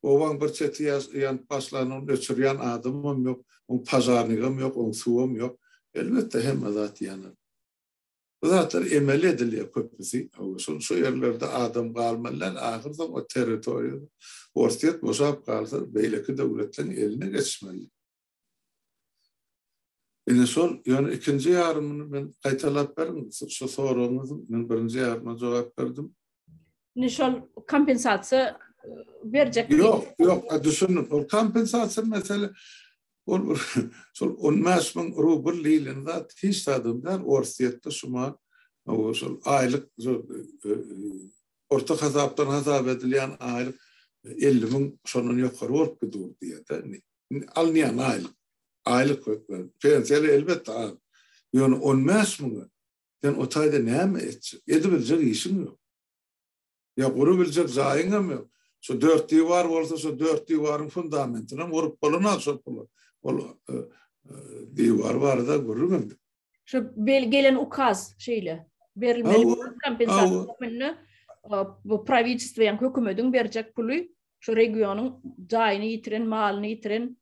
Obaň bir çeti ýanyp başlanda ony öçürýän adamam ýok, oň pažarnigem ýok, oň suwam ýok. Elbetde, hemme zat ýanar. Bu zatlar emeli edilýär köpüsi. Şol şu ýerlerde adam galmanlän ahyrsoň o territoriýa Orsýet boşap galsa beýleki döwletleriň eline geçmeli. Ine şol ýöne ikinji ýarymyny men gaýtalap beriň şu soragyňyzy men birinji ýaryma jogap berdim. Indi şol kompensasiýa berjek. Ýok, ýok, düşündim. Ol kompensasiýa mesele Ol bir şol on bäş müň rubl diýlen zat hiç zadam däl, Orsýetde şu man şol aýlyk orta hasapdan hasap edilýän aýlyk elli müň şondan ýokary bolup gidur diýýärdi. Indi alynýan aýlyk, aýlyk hökmany pensiýaly elbetde az. Ýöne on bäş müňe sen o taýda näme etjek? Edibiljek işiň ýok. Ýa gurup biljek jaýyň hem ýok. Şu dört diwar bolsa şu dört diwaryň fundamentini hem gurup bolanok şol pula. Ol diwar barada gürrüň etdik. Şu gelen ukaz şeýle berilmeli kompensasiýa hökmünde bu prawidjestwo ýa hökümediň berjek puly şu regionyň jaýyny ýitiren, malyny ýitiren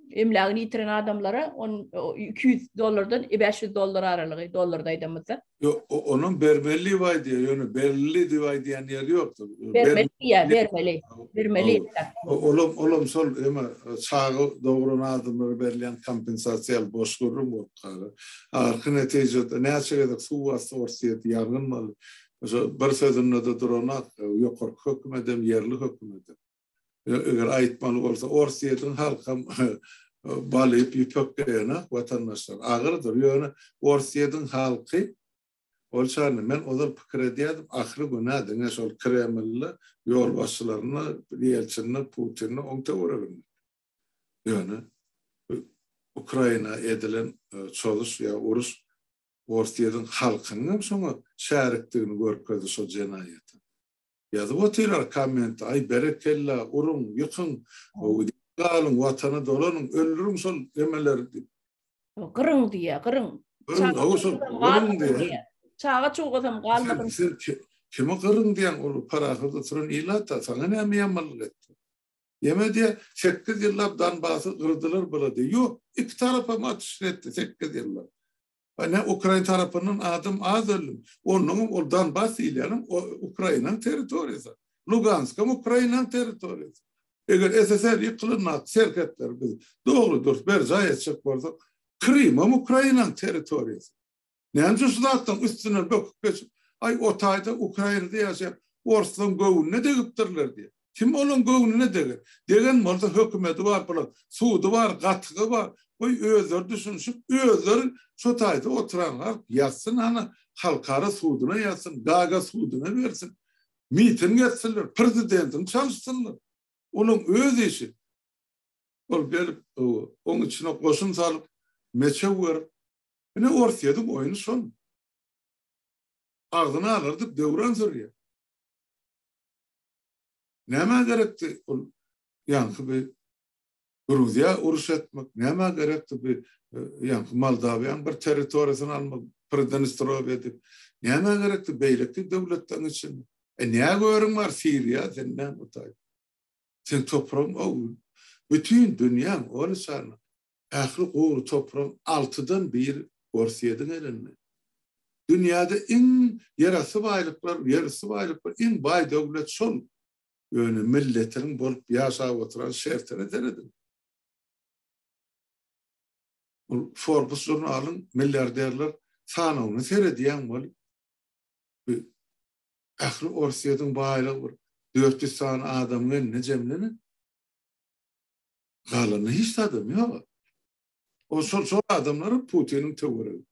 emlägini ýitiren adamlara on iki ýüz dollardan bäş ýüz dollar aralygy dollarda aýdamyzda. Ýok, onuň bermeli diýip aýdýar, ýöne berli diýip aýdýan ýeri ýokdur. Bermeli diýýär, bermeli. Bermeli. Olam, olam şol eme çaga dogran adamlara berilýän kompensasiýa boş gürrüň bolup galar. Ahyrky netijede näçe gezek suw basdy Orsýet, ýangyn boldy. Şo bir sözünde-de duranok, ýokarky hökümet hem, ýerli hökümet hem. eger aýtmaly bolsa ors ýediň halkam bal iýip ýüpek geýenak watandaşlar agyrdyr ýöne ors ýediň halky ol çany men ozal pikir edýädim ahyry günä diňe şol kremlli ýolbaşçylaryna ýelçinli putinli oň töwereginde ýöne ukraina edilen çozuş ýa uruş ors ýediň halkynyňam şoňa şärikdigini görkezdi şo jenaýata Ýazyp otyrlar komment aý berekella uruň ýykyň galyň watana dolanyň öldüriň şol emeleri diýip. Gyryň diýýä gyryň. Çaga çuwgazam galmasyn. Sen kimi gyryň diýýäň ol parahat oturan ilata saňa näme ýamanlyk etdi. Ýeme diýýä sekiz ýyllap Donbasy gyrdylar bula diýýä ýok iki tarapam atyşyn etdi sekiz ýyllap. Ine, ukrain tarapyndan adam az öldi. Onnoňam ol Donbas diýilýänem Ukrainanyň territoriýasy. Luganskam Ukrainanyň territoriýasy. Eger SSR ýykylanda serhetleri biz dogry-dürs berjaý etjek bolsak, Krymam Ukrainanyň territoriýasy. Näme üçin şu zatlaryň üstünden böküp geçip, Aý, o taýda Ukrainada ýaşaýan orslaryň göwnüne degipdirler diýip. Kim olaň göwnüne deger? Degen bolsa hökümedi bar bular, sudy bar, gatygy bar. Goý özleri düşünişip, özleri şo taýda oturan halk ýazsyn hany, halkara suduna ýazsyn, Gaga suduna bersin. Miting etsinler, prezidentini çalyşsynlar. Olaň öz işi. Ol gelip, owo, oň içine goşun salyp, meçew berip. Ine Orsýediň oýny şol. Agzyny agyrdyp döwran sürýär. Nämä gerekdi ol ýaňky bir Gruziýa uruş etmek, nämä gerekdi bir e, ýaňky Moldawiýanyň bir territoriýasyny almak, Pridnestrow edip, nämä gerekdi beýleki döwletleriň içinde. E ne görüň bar Siriýa sen ne mutaý. Sen topragyň o bütün dünýäň ony sana Ähli gury topragyň altydan biri Orsýediň elinde. Dünýäde iň ýerasty baýlyklar, ýerüsti baýlyklar, iň baý döwlet şol. Ýöne milletiniň bolup ýaşap oturan şertine serediň. Ol Forbes žurnalyň milliarderler sanawyna seredýäň weli, bi ähli Orsýediň baýlygy bir dört ýüz sany adamyň elinde jemlenen. Galanda hiç zadam yok. O şol şol adamlar Putinin töwürü.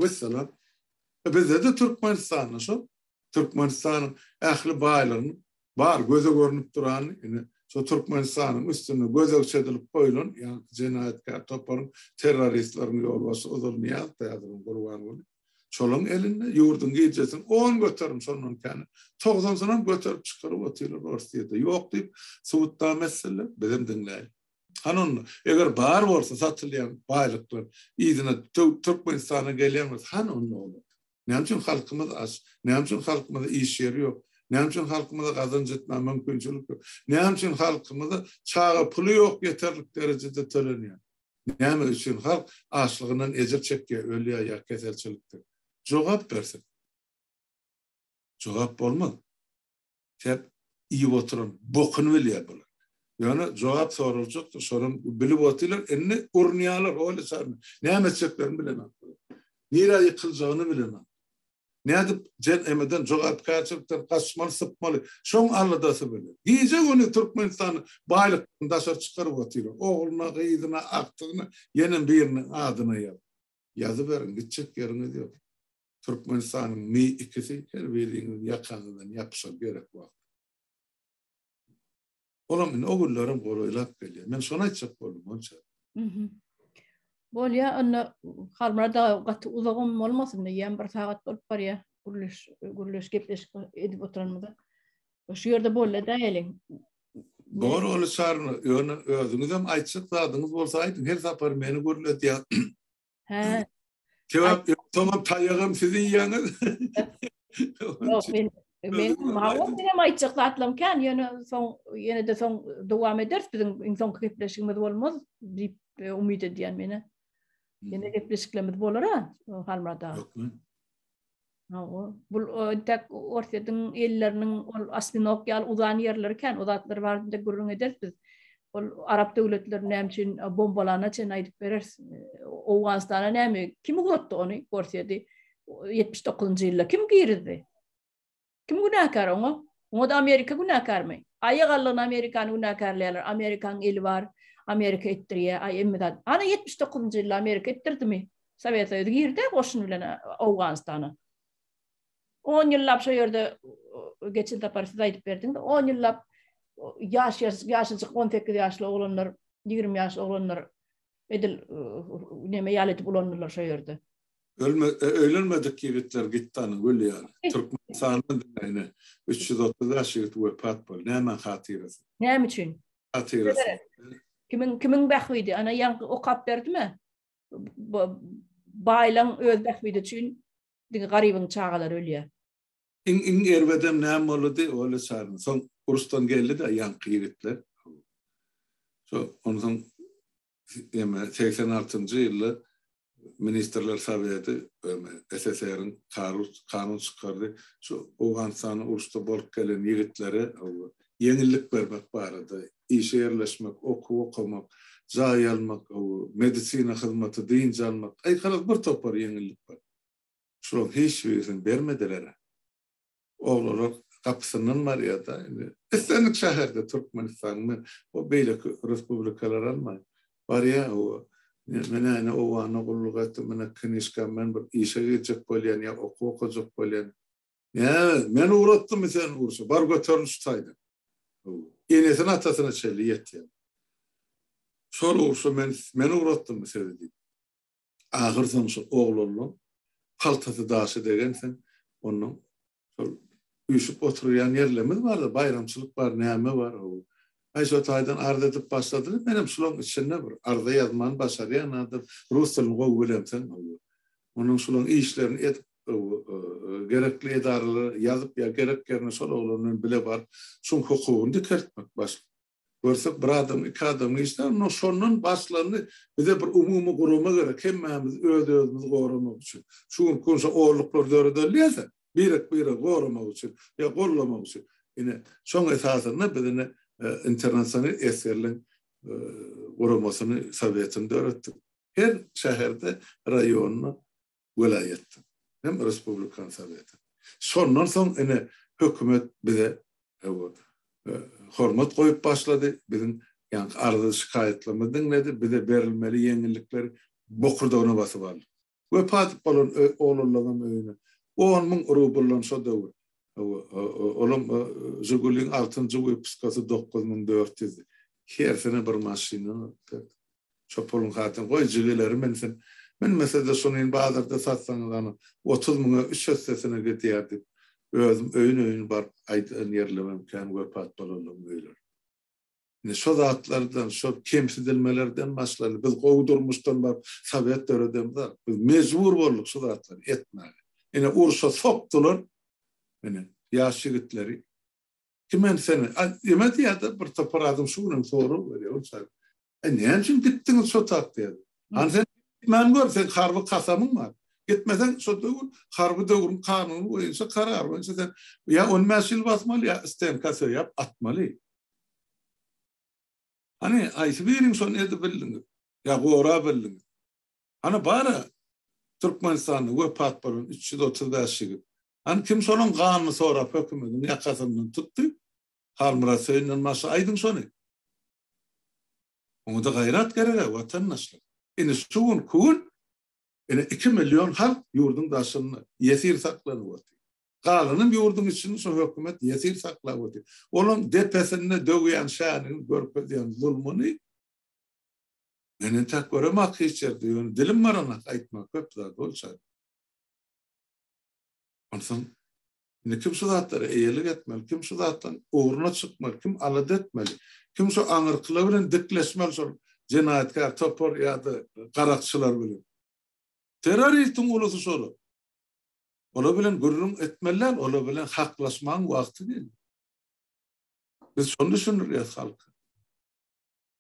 Vesselam. E bizde de Türkmenistanda şol. Türkmenistanyň ähli baýlygyny bar göze görünip duran ine şu Türkmenistanyň üstünde gözegçi edilip goýlan ýa jenaýatkär toparyň terroristleriň ýolbaşçy Uzulniýaz täzeden gurban bolup Şolaryň elinde ýurduň gijesi on göterim şondan käni togsansynam göterip çykaryp otyrlar Orsyýede ýok diýip subutnama etseler bizem diňläýin. Hany onda eger bar bolsa satylýan baýlyklar yzyna Türkmenistana gelýän bolsa hany onda olar? Näme üçin halkymyz aç? Näme üçin halkymyza iş ýeri ýok? Näme üçin halkymyza gazanç etmäge mümkinçilik ýok? Näme üçin halkymyza çaga puly ýok ýeterlik derejede tölenýär? Näme üçin halk açlygyndan ejir çekýär, ölýär ýa keselçilikden? Jogap bersin. Jogap bolmaz. Tek iýip oturan bokuny bilýär bular. Ýöne jogap soraljakdyr, şonam bilip otyrlar, indi urunýarlar, oýla çarynda. Näme etjeklerini bilemok bular. Nirä ýykyljagyny bilemok. Nädip JNM-den, jogapkärçilikden gaçmaly, sypmaly? Şoň aladasy bilen, gije-gündiz Türkmenistany baýlykdan daşary çykaryp otyrlar. Ogluna, gyzyna, agtygyna ýene biriniň adyna ýaz. Ýazyberiň, gitjek ýeriňiz ýok. Türkmenistanyň mi ikisi her biriňiziň ýakaňyzdan ýapyşar gerek wagty. Olam indi o günlerim golaýlap gelýär. Men şony aýtjak boldum bolça. Mhm. Bolýa, onda Halmyrat aga gaty uzagam bolmasyn, diýýän bir sagat bolup barýar. Gürleş, gürleş gepleşik edip oturanymyza. Şu ýerde bolýa da geliň. Dogry bolýa Çary, ýöne özüňizem aýtjak zadyňyz bolsa aýdyň, her sapar meni gürledýär. Hä. Sebäp tamam taýagam siz iýýäňiz. Ýok, men men mawa menem aýtjak zatlam kän, ýöne soň ýene de soň dowam ederis biziň iň soňky gepleşigimiz bolmaz diýip e, umyt edýän meni. Ýene gepleşiklerimiz bolar ha, Halmurada. Hawa, bul entek Orsýetiň elleriniň ol Aspinok ýaly uzan ýerleri kän, o zatlar barada gürrüň ederis biz. Ol arap döwletlerini näme üçin bombalana çen aýdyp bereris. Owganystana näme, kim ugrutdy ony, Orsýedi? ýetmiş dokuzynjy ýylda kim girizdi? Kim günäkär oňa? Oňa-da Amerika günäkärmi? Aýa galdygyna Amerikany günäkärleýärler, Amerikanyň eli bar, Amerika etdirýär, aý emme zat. Ana ýetmiş dokuzynjy ýylda Amerika etdirdimi? Sowet Soýuzy girdi-ä goşun bilen Owganystana. On ýyllap şo ýerde geçen sapar siz aýdyp berdiňiz, on ýyllap ýaş ýaşajyk on sekiz ýaşly oglanlar, ýigrimi ýaşly oglanlar edil neme ýaly edip ulandylar şo ýerde. Ölme, e, öýlenmedik ýigitler gitdanyň öli ýaly. Türkmenistanda diňe 330 bäş ýigit wepat boldy. Nämäň hatyrasy? Näme üçin? Hatyrasy. Kimiň kimiň bähbidi? Ana ýaňky okap berdimi? Baýlaň öz bähbidi üçin diňe garybyň çagalary ölýär. Iň iň erbedem näme boldy? Ola çaryn. Soň urusdan geldi-de ýaňky ýigitler. Şo ondan Eme, segsen altynjy ýylda Ministrler Soweti, eme, SSR-iň karus, kanun çykardy, şu Owganystany uruşda bolup gelen ýigitlere ýeňillik bermek barada, işe ýerleşmek, okuw okamak, jaý almak, medisina hyzmaty, dynç almak, aýkalyk bir topar ýeňillik bar. Şularyň hiç birisini bermediler-ä. Oglalak gapysyndan barýar-da, indi islendik şäherde Türkmenistanyň, men o beýleki respublikalary almaýyn, barýar howa. Men äne obana gulluk etdim, ine knyžkam, men bir işe girjek bolýan ýa okuw okajak bolýan. Näme, men ugratdymmy seni urşa, bar göterin şu taýdan. Howa. Enesine-atasyna çenli ýetýär. Şol urşa men, men ugratdymmy sizi diýip. Ahyrsoňy şo oglanlaň kaltasy daşa degen sen ondan şol üýşüp oturýan ýerlerimiz bar-da, baýramçylyk bar, näme bar, hawa. Aý şo taýdan arz edip başladylar, menem şolaň içinde bir arza ýazmany başarýan adam, rus dilini gowy bilemseň, hawa. Onuň şolaň işlerini edip, hawa, gerekli edaralara ýazyp ýa gerek ýerine şol oglan bilen bile baryp, şoň hukugyny dikeltmek başlyk. Görsek bir adam, iki adam işler, onda şondan başlandy. Bize bir umumy gurama gerek, hemmämiz öz-özümizi goramak üçin. Şu günki gün şo olluklar döredilýärse, birek-biregi goramak üçin ýa gollamak üçin. Ine, şoň esasynda biz ine Internasional esgerligiň guramasyny, sowetini döretdik. Her şäherde, raýonda welaýatdan hem respublikan sowetiň. Şondan soň ine hökümet bize hawa hormat goýup başlady, biziň ýaňky arza şikaýatlarymyzy diňledi, bize berilmeli ýeňillikleri bokurdagyna basyp aldy. Wepat bolan oglanlaňam öýüne on müň rubldan şo döwür olam Žiguliň altynjy wypuskasy dokuz müň dört ýüzdi. Hersine bir maşyna Çopulyň hatyny goý jigileri münsin. Münmese-de şunin bazarda satsaňyz ana, otuz müňe üç hessesine gidýär diýip, özüm öýün-öýün baryp aýdan ýerlemem kän wepat bolanlaryň öýleri. Indi şo zatlardan, şo kemsidilmelerden başlany biz gowy durmuşdan baryp sowet döredemizok. Biz mejbur bolduk şu zatlary etmäge. Ine urşa sokdular, ine, ýaş ýigitleri. Kim hem seni ýeme diýýärdi, bir topar adam şu günem sorag berýär ol çaýy. Äý, näme üçin gitdiňiz şo tak diýýär. Hany sen gitmän gör, seň harby kasamyň bar. Gitmeseň şo döwür harby döwrüň kanuny boýunça, karary boýunça sen ýa on bäş ýyl basmaly, ýa stenka söýäp atmaly. Hany, haýsy biriň şony edip bildiňiz? Ýa gorap bildiňiz? Hany bar-a, Türkmenistanda wepat bolan üç ýüz otuz bäş ýigit. Hany kim şonuň ganyny sorap hökümediň ýakasyndan tutdy? Halmyrat Söýünden başga aýdyň şony. Oňada gaýrat gereg-ä, watandaşlar. Indi şu gün kün ine iki million halk ýurduň daşynda ýesir saklanyp otyr. Galanam ýurduň içinde şu hökümet ýesir saklap otyr. Olaň depesinde döwýän şäniň görkezýän zulmuny men entäk göremak hiç ýerde, ýöne dilim baranok aýtmak köp zat bolçady. Onsoň indi kim şu zatlara eýelik etmeli, kim şu zatdan ugruna çykmaly, kim alada etmeli, kim şu aňyrkylar bilen dikleşmeli şol jenaýatkär topar ýa-da garakçylar bilen? Terroristiň ulusy şolar. Olar bilen gürrüň etmeli däl, olar bilen haklaşmagyň wagty geldi. Biz şony düşündirýäs halka.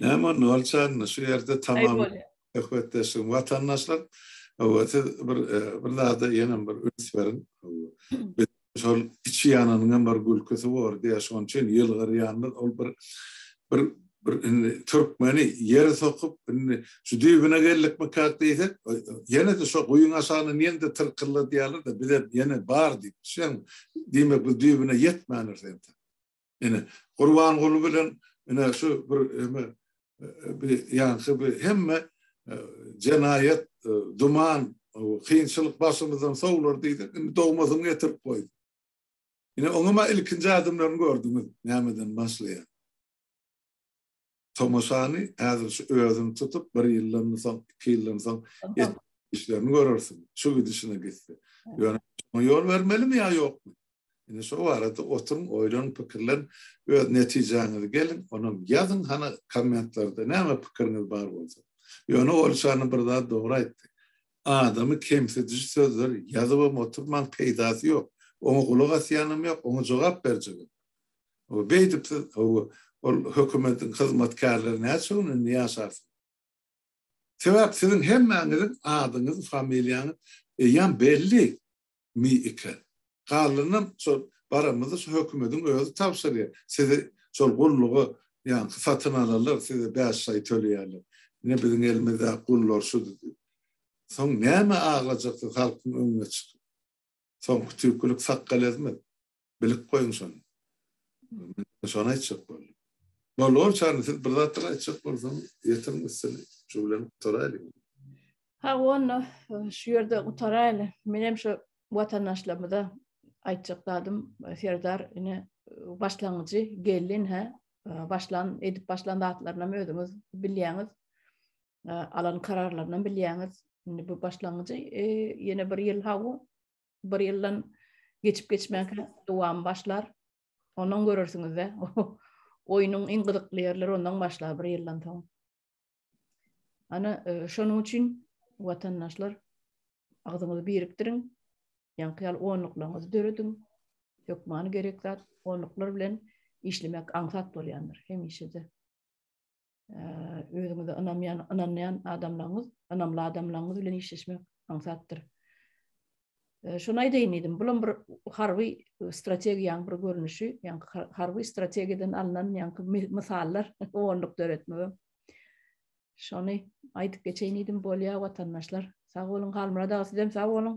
Näme onda bolçan, şu ýerde tamam söhbetdeşim watandaşlar. Hawa, siz bir bir zada ýene bir üns beriň. Şol içi ýananyň hem bir gülküsi bor diýýär, şonuň üçin ýylgyrýandyr. Ol bir bir bir indi türkmeni ýere sokup, indi şu düýbüne geldikmi kak diýsek, ýene-de şo guýyň aşagyna ýene-de tyrkylla diýýärler-de, biz hem ýene bar diýip, şeň diýmek biz düýbüne ýetmändiris ýa-da. Ine, Gurbanguly bilen ine şu bir eme bir ýaňky bir hemme jenaýat, duman, kynçylyk başymyzdan sowlar diýdik, indi dogmasyny getirip goýduk. Ine, oňa ilkinji adamlaryny gördüňiz, nämeden başlaýar. tomaşany häzir şu özüň tutup bir ýyldan soň iki ýyldan soň işlerini görersiň şu gidişine gitse ýöne ýol bermelimi ýa ýokmy indi şu barada oturyň oýlan pikirlen öz netijäňizi geliň onam ýazyň hany kommentlerde näme pikiriňiz bar bolsa ýöne olşany bir zat dogry aýtdy adamy kemsidiji sözler ýazybam oturmaň peýdasy ýok oňa gulak asýanam ýok oňa jogap berjegem Hawa, beýdip siz, hawa, ol hökümetiň hyzmatkärleri näçe gün indi ýaşarsyň? Sebäp siziň hemmäňiziň adyňyz, familiýaňyz eýýäm belli mi eken? Galanynam şol baramyzda şu hökümetiň özi tabşyrýar. Sizi şol gulluga ýaňky satyn alanlar size bäş aý töleýärler. Ine biziň elimizdäki gullar şudy diýip. Soň näme aglajaksyz halkyň öňüne çykyp? Soňky tüýkülik sakgal ezmez. Bilip goýuň şony. Men şony aýtjak boldum. Bolor, Çarli, siz bir zatlar aýtjak bolsaň, ýetiriň üstüni. Şu bilen gutaraýlyň. Ha, onda şu ýerde gutaraýly. Menem şu watandaşlarymyza aýtjak zadym, Serdar, ine, başlangyjy, gelin, hä, başlan, edip başlan zatlarynam özüňiz bilýäňiz, alan kararlarynam bilýäňiz. Indi bu başlangyjy, ýene bir ýyl hawa, bir ýyldan geçip-geçmänkä dowamy başlar. Ondan görersiňiz-de. Oýnuň iň gyzykly ýerleri ondan başlar bir ýyldan soň. Ana, e, şonuň üçin watandaşlar agzyňyzy birikdiriň. Ýaňky ýaly onluklaryňyzy dörediň. Hökmany gerek zat onluklar bilen işlemek aňsat bolýandyr hemişe-de. özüňize ynanýan, ynanýan adamlaryňyz, ynamly adamlaryňyz bilen işleşmek aňsatdyr. Şuny aýdaýyn diýdim, bu bir harby strategiýanyň bir görnüşi, ýaňky harby strategiýadan alnan ýaňky mysallar onluk döretmegem. Şony aýdyp geçeýin diýdim, bolýar watandaşlar. Sag boluň, Halmyrat aga, sizem sag boluň.